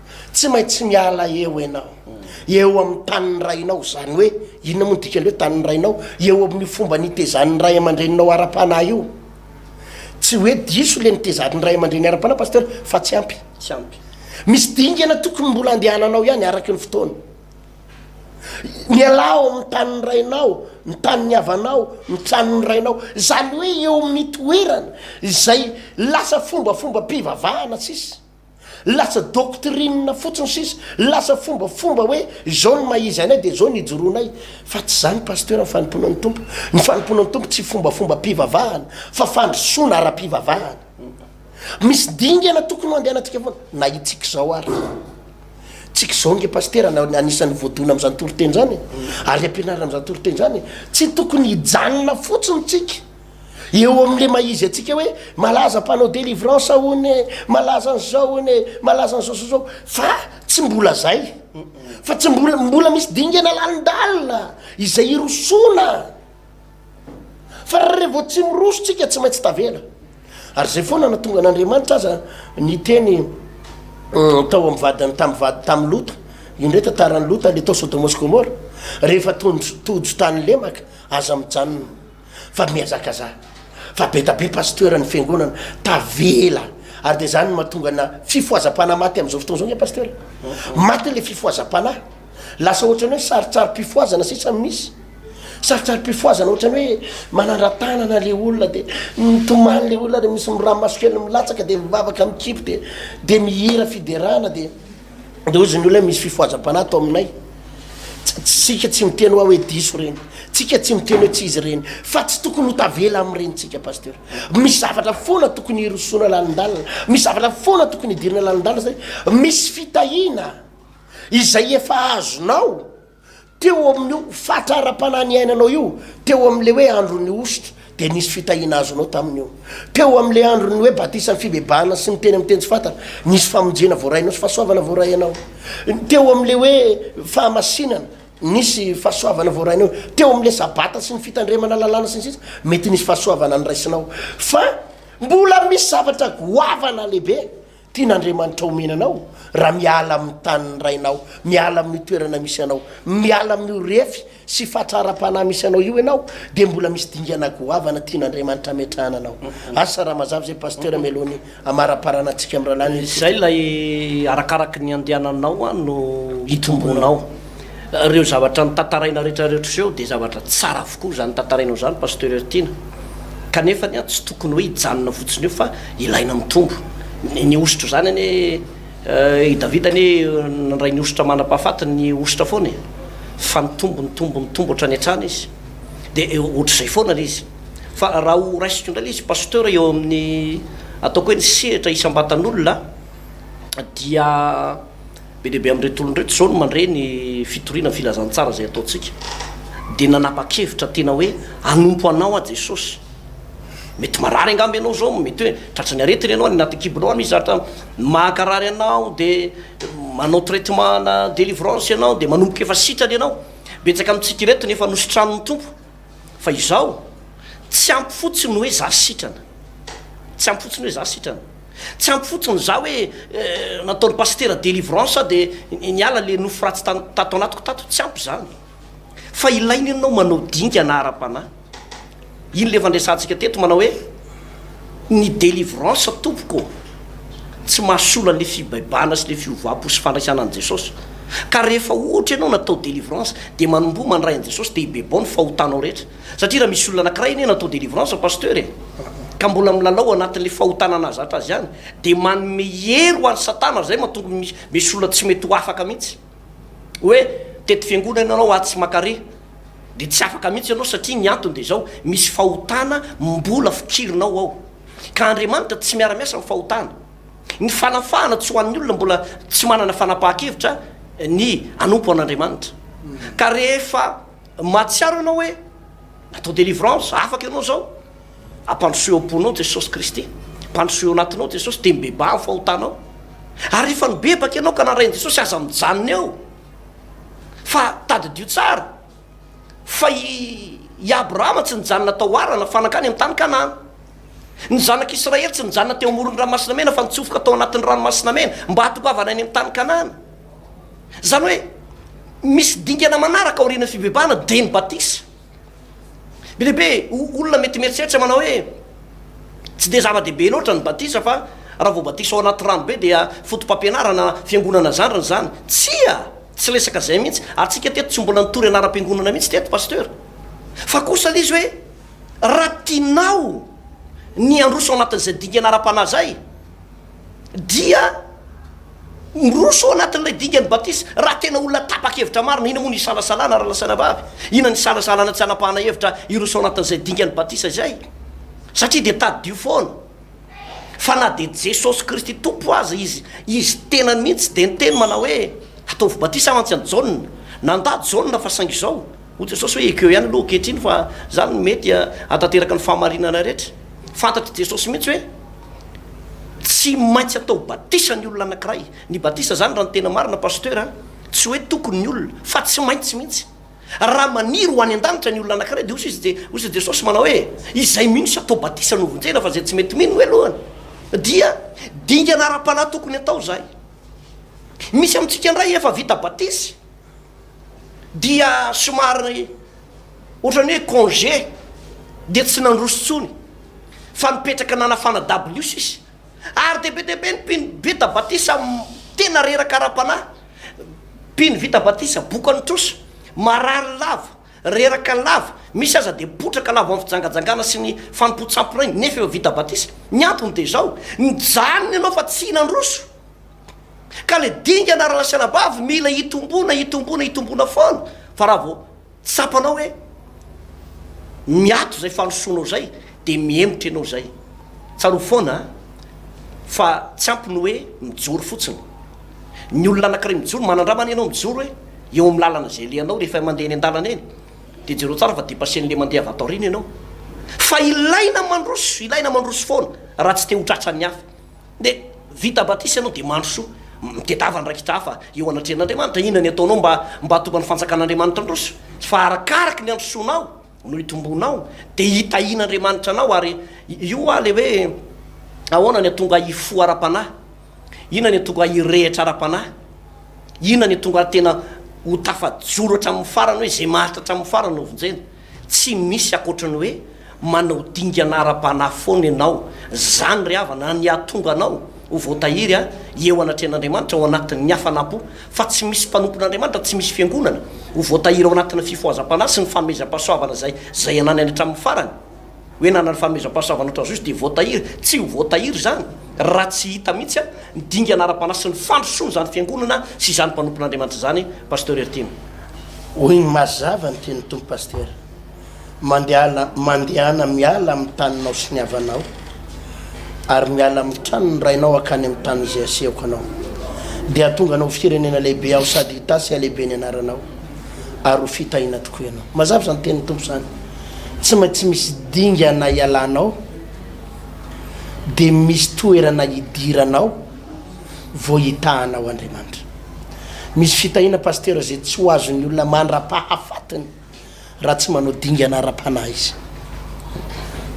Tsy maintsy miala eo ianao, eo amin'ny tanin'ny rainao, izany hoe inona moa ny dikan'ny hoe tanin'ny rainao? Eo amin'io fomba nitezan'ny ray aman-dreninao ara-panahy io. Tsy hoe diso ilay nitezan'ny ray aman-dreny ara-panahy Pasteur fa tsy ampy. Tsy ampy. Misy dingana tokony mbola andehananao ihany araka ny fotoana. Mialà ao amin'ny tanin'ny rainao, ny tanin'ny havanao, ny tranon'ny rainao. Izany hoe eo amin'ny toerana izay lasa fombafombam-pivavahana sisa. Lasa doctrine fotsiny sisa, lasa fombafomba hoe izao ny maha izy anay dia izao ny ijoroanay. Fa tsy izany Pasteur ny fanompoana ny Tompo. Ny fanompoana ny Tompo tsy fombafombam-pivavahana fa fandrosoana ara-pivavahana. Misy dingana tokony hoandehanatsika foana. Na itsika izao ary. Tsika izao nge Pasteur no anisan'ny voadona amin'izany toriteny izany e. Ary ampianarina amin'izany toriteny izany e. Tsy tokony hijanona fotsiny tsika. Eo amin'le mahizy antsika hoe malaza mpanao delivrance hono e, malaza an'izao hono e, malaza an'izao sy izao, fa tsy mbola zay, fa tsy mbola, mbola misy dingana lalindalina izay hirosoana, fa raha vao tsy miroso tsika tsy maintsy tavela, ary izay foana na tonga an'Andriamanitra aza ny teny euh, tao amin'ny vadiny tamin'ny vady tamin'ny Lota, io ndray tantaran'i Lota le tao Sodoma sy Gomora, rehefa tojo tany lemaka aza mijanona. fa mihazakazaha fa be da be pasteur ny fiangonana tavela ary dia zany no mahatonga na fifohazam-panahy maty amin'izao fotoana izao nge pasteur maty le fifohazam-panahy lasa ohatrany hoe sarotsarom-pifohazana sisa no misy sarotsarom-pifohazana ohatrany hoe manandratanana le olona dia mitomany le olona dia misy miramaso kely milatsaka dia mivavaka mikipy dia dia mihira fiderana dia de hoy izy ny olona misy fifohazam-panahy ato aminay tsika tsy miteny hoa hoe diso ireny tsika tsy miteny hoe tsy izy ireny fa tsy tokony ho tavela amin'ireny tsika pasteur misy zavatra foana tokony hirosoana lalindalina misy zavatra foana tokony hidirina lalindalina zay misy fitahiana izay efa azonao Teo amin'io fatra ara-panahy niainanao io, teo amin'ilay hoe andron'ny hosotra, dia nisy fitahiana azonao tamin'io. Teo amin'ilay andron'ny hoe batisan'ny fibebahana sy ny teny amin'ny teny tsy fantatra, nisy famonjena voarainao sy fahasoavana voarainao. Teo amin'ilay hoe fahamasinana, nisy fahasoavana voarainao. Teo amin'ilay Sabata sy ny fitandremana lalàna sy ny sisa, mety nisy fahasoavana noraisinao. Fa mbola misy zavatra goavana lehibe Tian'Andriamanitra omena anao raha miala amin'ny tanin'ny rainao, miala amin'io toerana misy anao, miala amin'io refy sy fatra ara-panahy misy anao io ianao dia mbola misy dingana goavana tian'Andriamanitra hametrahana anao. Asa raha mazava izay Pasteur mialohan'ny hamaraparana antsika amin'ny rahalahy Nilsson. Izay ilay arakaraky ny andehananao no hitombonao. Reo zavatra notantaraina rehetra reo trseo de zavatra tsara avokoa zany tantarainao zany Pasteur Hertina. Kanefa anie tsy tokony hoe hijanona fotsiny eo fa ilaina mitombo. Ny hosotra zany anie eh, i Davida anie nandray ny hosotra mandrapahafatiny ny hosotra foana e. Fa nitombo nitombo nitombo hatrany hatrany izy. De eh, ohatr'izay foana le izy. Fa raha ho raisiko indray le izy Pasteur eo amin'ny ataoko hoe ny sehatra isam-batan'olona dia. Be dia be amin'ireto olona ireto izao no mandre ny fitoriana ny filazantsara izay ataontsika, dia nanapa-kevitra tena hoe hanompo Anao aho Jesosy. Mety marary angamba ianao izao, mety hoe tratran'ny aretina ianao, any anaty kibo-nao any misy zatra mahakarary anao, dia manao traitement na délivrance ianao, dia manomboka efa sitrana ianao. Betsaka amintsika ireto no efa nositran'ny Tompo. Fa izaho, tsy ampy fotsiny ny hoe za sitrana. Tsy ampy fotsiny hoe za sitrana. Tsy ampy fotsiny za hoe nataony pasitera delivrance za de niala le nofo ratsy tato anatiko tato, tsy ampy zany fa ilaina ianao manao dingana ara-panahy, iny le efa andresantsika teto manao hoe ny delivrance tompoko tsy mahasolo anle fibaibana sy le fiovam-po sy fandraisana an'i Jesosy ka rehefa ohatra ianao natao delivrance de manomboha mandray an'i Jesosy de hibebao ny fahotanao rehetra, Satria raha misy olona anakiray anie natao délivrance Pasteur e, ka mbola milalao anatin'le fahotana nahazatra azy ihany, dia manome hery ho an'i satana izay matonga misy olona tsy mety ho afaka mihitsy hoe tety fiangonana ianao aho tsy maka re, dia tsy afaka mihitsy ianao satria ny antony dia izao misy fahotana mbola fikirinao ao, ka Andriamanitra tsy miara miasa amin'ny fahotana. Ny fanafahana tsy ho an'ny olona mbola tsy manana fanapahan-kevitra ny hanompo an'Andriamanitra, ka rehefa Mahatsiaro ianao hoe natao délivrance, afaka ianao izao. Ampandrosoy ao am-ponao Jesosy Kristy. Ampandrosoy ao anatinao Jesosy, dia mibebaha ny fahotanao. Ary rehefa nibebaka ianao ka narahin'i Jesosy, aza mijanona eo, fa tadidio tsara fa i i Abrahama tsy nijanona tao Harana fa nankany amin'ny tany Kanana. Ny zanak'i Israely tsy nijanona teo amoron'ny Ranomasina Mena fa nitsofoka tao anatin'ny Ranomasina Mena mba hahatongavana any amin'ny tany Kanana. Izany hoe misy dingana manaraka aorian'ny fibebahana dia ny batisa. Be dia be olona mety mieritreritra manao hoe tsy dia zava-dehibe loatra ny batisa fa raha vao batisa ao anaty rano be dia foto-pampianarana fiangonana zandriny izany. Tsia! Tsy resaka izay mihitsy, ary tsika teto tsy mbola nitory anaram-piangonana mihitsy teto Pasteur. Fa kosa ilay izy hoe raha tianao ny handroso ao anatin'izay dingana ara-panahy izay, dia miroso ao anatin'ilay dingan'ny batisa raha tena olona tapa-kevitra marina. Inona moa no isalasalana ary lazaina vavy? Inona no isalasalana tsy hanapahana hevitra hiroso ao anatin'izay dingan'ny batisa izay? Satria dia tadidio foana fa na dia Jesosy Kristy Tompo aza Izy, Izy tenany mihitsy tsy dia niteny manao hoe ataovy batisa mantsy an'i Jaona. Nandà Jaona fa saingy izao, hoy Jesosy hoe ekeo ihany aloha ankehitriny fa izany no mety hahatanteraka ny fahamarinana rehetra. Fantatr'i Jesosy mihitsy hoe. Tsy maintsy atao batisa ny olona anakiray. Ny batisa zany raha ny tena marina Pasteur a, tsy hoe tokony ny olona, fa tsy maintsy mihitsy. Raha maniry ho any an-danitra ny olona anakiray dia hoy izy je, hoy izy Jesosy manao hoe, izay mino sy atao batisa no vonjena fa izay tsy mety mino hoe lohany. Dia dingana ara-panahy tokony atao izay. Misy amintsika indray efa vita batisa. dia somary ohatran'ny hoe congé dia tsy nandroso tsony fa nipetraka nanafana dabilio sisa ary dia be dia be ny mpino vita batisa tena reraka ara-panahy mpino vita batisa bokan'ny trosa marary lava reraka lava misy aza dia potraka lava amin'ny fijangajangana sy ny fanompoan-tsampy rainy nefa efa vita batisa ny antony dia izao nijanona ianao fa tsy nandroso Ka le dingana ra lasalabavy mila itombona itombona itombona foana fa ra vao tsapanao hoe miato zay fandrosoanao zay de mihemotra enao zay. Tsarovy foana a fa tsy ampy ny hoe mijoro fotsiny. Ny olona anakiray mijoro manandram anie enao mijoro hoe eo am lalana zay alehanao rehefa mande eny andalana eny de jereo tsara fa depasse anle mande avy ato aoriana enao. Fa ilaina mandroso ilaina mandroso foana ra tsy te ho tratran'ny hafa. Nde vita batisa ianao dia mandrosoa mitedava andraikitra hafa eo anatrehan'Andriamanitra. Inona ny ataonao mba mba hahatonga ny fanjakan'Andriamanitra handroso? Fa arakaraky ny handrosoanao no hitombonao dia hitahian'Andriamanitra anao ary io hoa le hoe ahoana ny hatonga hifoha ara-panahy? Inona ny hatonga hirehitra ara-panahy? Inona ny hatonga tena ho tafajoro hatramin'ny farany hoe izay maharitra hatramin'ny farany no vonjena? Tsy misy ankoatry ny hoe manao dingana ara-panahy foana ianao. Izany ry havana ny hahatonga anao ho voatahiry eo anatrehan'Andriamanitra ao anatin'ny hafanam-po. Fa tsy misy mpanompon'Andriamanitra, tsy misy fiangonana, ho voatahiry ao anatin'ny fifohazam-panahy sy ny fanomezam-pahasoavana izay izay ananany hatramin'ny farany. Hoe nanana ny fanomezam-pahasoavana ho Trazoisy dia voatahiry? Tsy ho voatahiry izany raha tsy hita mihitsy ny dingana ara-panahy sy ny fandrosoana izany Fiangonana sy izany mpanompon'Andriamanitra izany Pasteur Heritiana. Hoy ny mazava ny tenin'ny Tompo Pasteur, Mandehala, mandehana miala amin'ny taninao sy ny havanao, ary miala amin'ny tranon'ny rainao hankany amin'ny tany izay hasehoko anao, dia hatonga anao ho firenena lehibe Aho sady hitasy halehibe ny anaranao, ary ho fitahiana tokoa ianao. Mazava izany tenin'ny Tompo izany. tsy maintsy misy dingana ialanao dia misy toerana hidiranao vao hitahanao Andriamanitra. Misy fitahiana Pasteur izay tsy ho azon'ny olona mandrapahafatiny raha tsy manao dingana ara-panahy izy.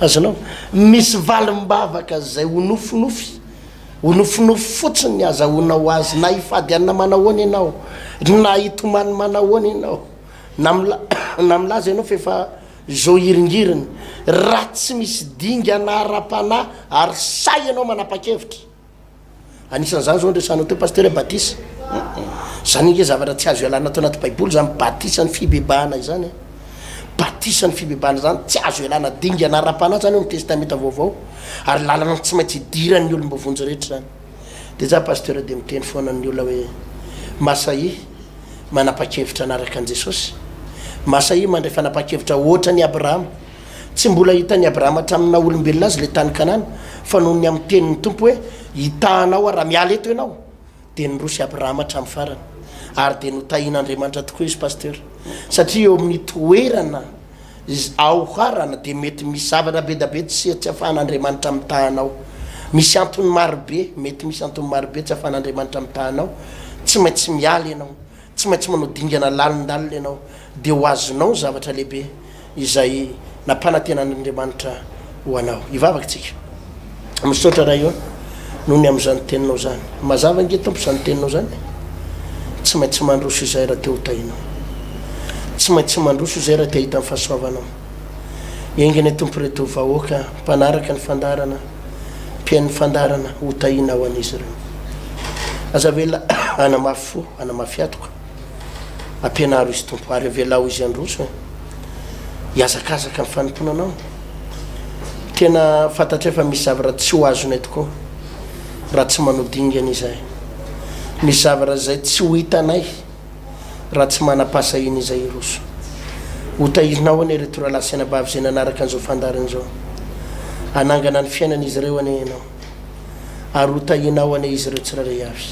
Azonao? Misy valim-bavaka izay ho nofinofy, ho nofinofy fotsiny ny azahoanao azy na hifady anona manahoana ianao, na hitomany manahoana ianao. Na mila na milaza ianao fa efa zo hiringiriny. Raha tsy misy dingana ara-panahy ary sahy ianao manapa-kevitra. Anisan'izany izao ny resahanao teo Pasitera hoe batisa. Izany ange zavatra tsy azo ialana tao anaty Baiboly izany batisa ny fibebahana izany a. Batisa ny fibebahana izany tsy azo ialana dingana ara-panahy izany ao amin'ny Testamenta Vaovao ary lalana tsy maintsy idiran'ny olom-bovonjy rehetra izany. de za pasteur de miteny foana amin'ny olona hoe masahia manapakevitra anaraka an'i Jesosy, masahia mandray fanapakevitra ohatran'i Abrahama, tsy mbola hitan'i Abrahama hatramin'ny naha olombelona azy le tany Kanana fa noho ny amin'ny tenin'ny Tompo hoe hitahanao aho raha miala eto ianao de niroso i Abrahama hatramin'ny farany ary de notahin'Andriamanitra tokoa izy pasteur satria eo amin'ny toerana Izy aoharana dia mety misy zavatra bedabe tsy tsy afahan'Andriamanitra mitaha anao. Misy antony marobe, mety misy antony marobe tsy afahan'Andriamanitra mitaha anao. Tsy maintsy miala ianao, tsy maintsy manao dingana lalindalina ianao, dia ho azonao ny zavatra lehibe izay nampanantenan'Andriamanitra ho anao. Hivavaka isika. Misaotra Ray ô, noho ny amin'izany teninao izany. Mazava ange Tompo izany teninao izany e. Tsy maintsy mandroso izahay raha te ho tahinao. Tsy maintsy mandroso izahay raha te hahita ny fahasoavanao. Enga anie Tompo ireto vahoaka mpanaraka ny fandaharana, mpihaino ny fandaharana, ho tahinao an'izy ireo. Aza avela hanamafy fo, hanamafy atoka. Ampianaro izy Tompo ary avelao izy handroso e. Hiazakazaka ny fanompoana anao. Tena fantatray fa misy zavatra tsy ho azonay tokoa raha tsy manao dingana izay. Misy zavatra izay tsy ho hitanay raha tsy manam-pahasahiana izay hiroso. Hotahirinao anie ireto rahalahy sy anabavy izay nanaraka an'izao fandaharana izao. Hanangana ny fiainan'izy ireo anie ianao. ary ho tahiana ao anie izy ireo tsirairay avy.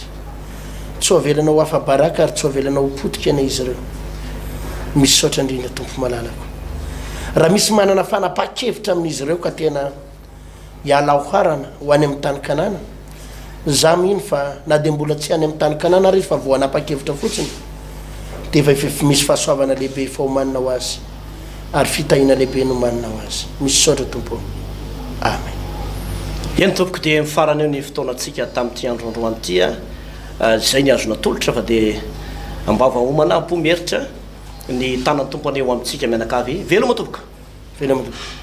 Tsy ho avelana ho afa-baraka ary tsy ho avelana ho potika anie izy ireo. Misaotra indrindra Tompo malalako. Raha misy manana fanapahan-kevitra amin'izy ireo ka tena hiala ao harana ho any amin'ny tany Kanana, izaho mino fa na dia mbola tsy any amin'ny tany Kanana ary izy fa vao hanapa-kevitra fotsiny dia efa misy fahasoavana lehibe efa homanina ho azy. ary fitahiana lehibe nomanina ho azy. Misaotra Tompo ô. Amen. Eny tompoko dia mifarana eo ny fotoanantsika tamin'ity andro androany ity a. Ah, izay ny azo natolotra fa dia ambava homana am-po mieritra ny tanan'ny Tompo anie ho amintsika mianakavy. Veloma tompoko. Veloma tompoko.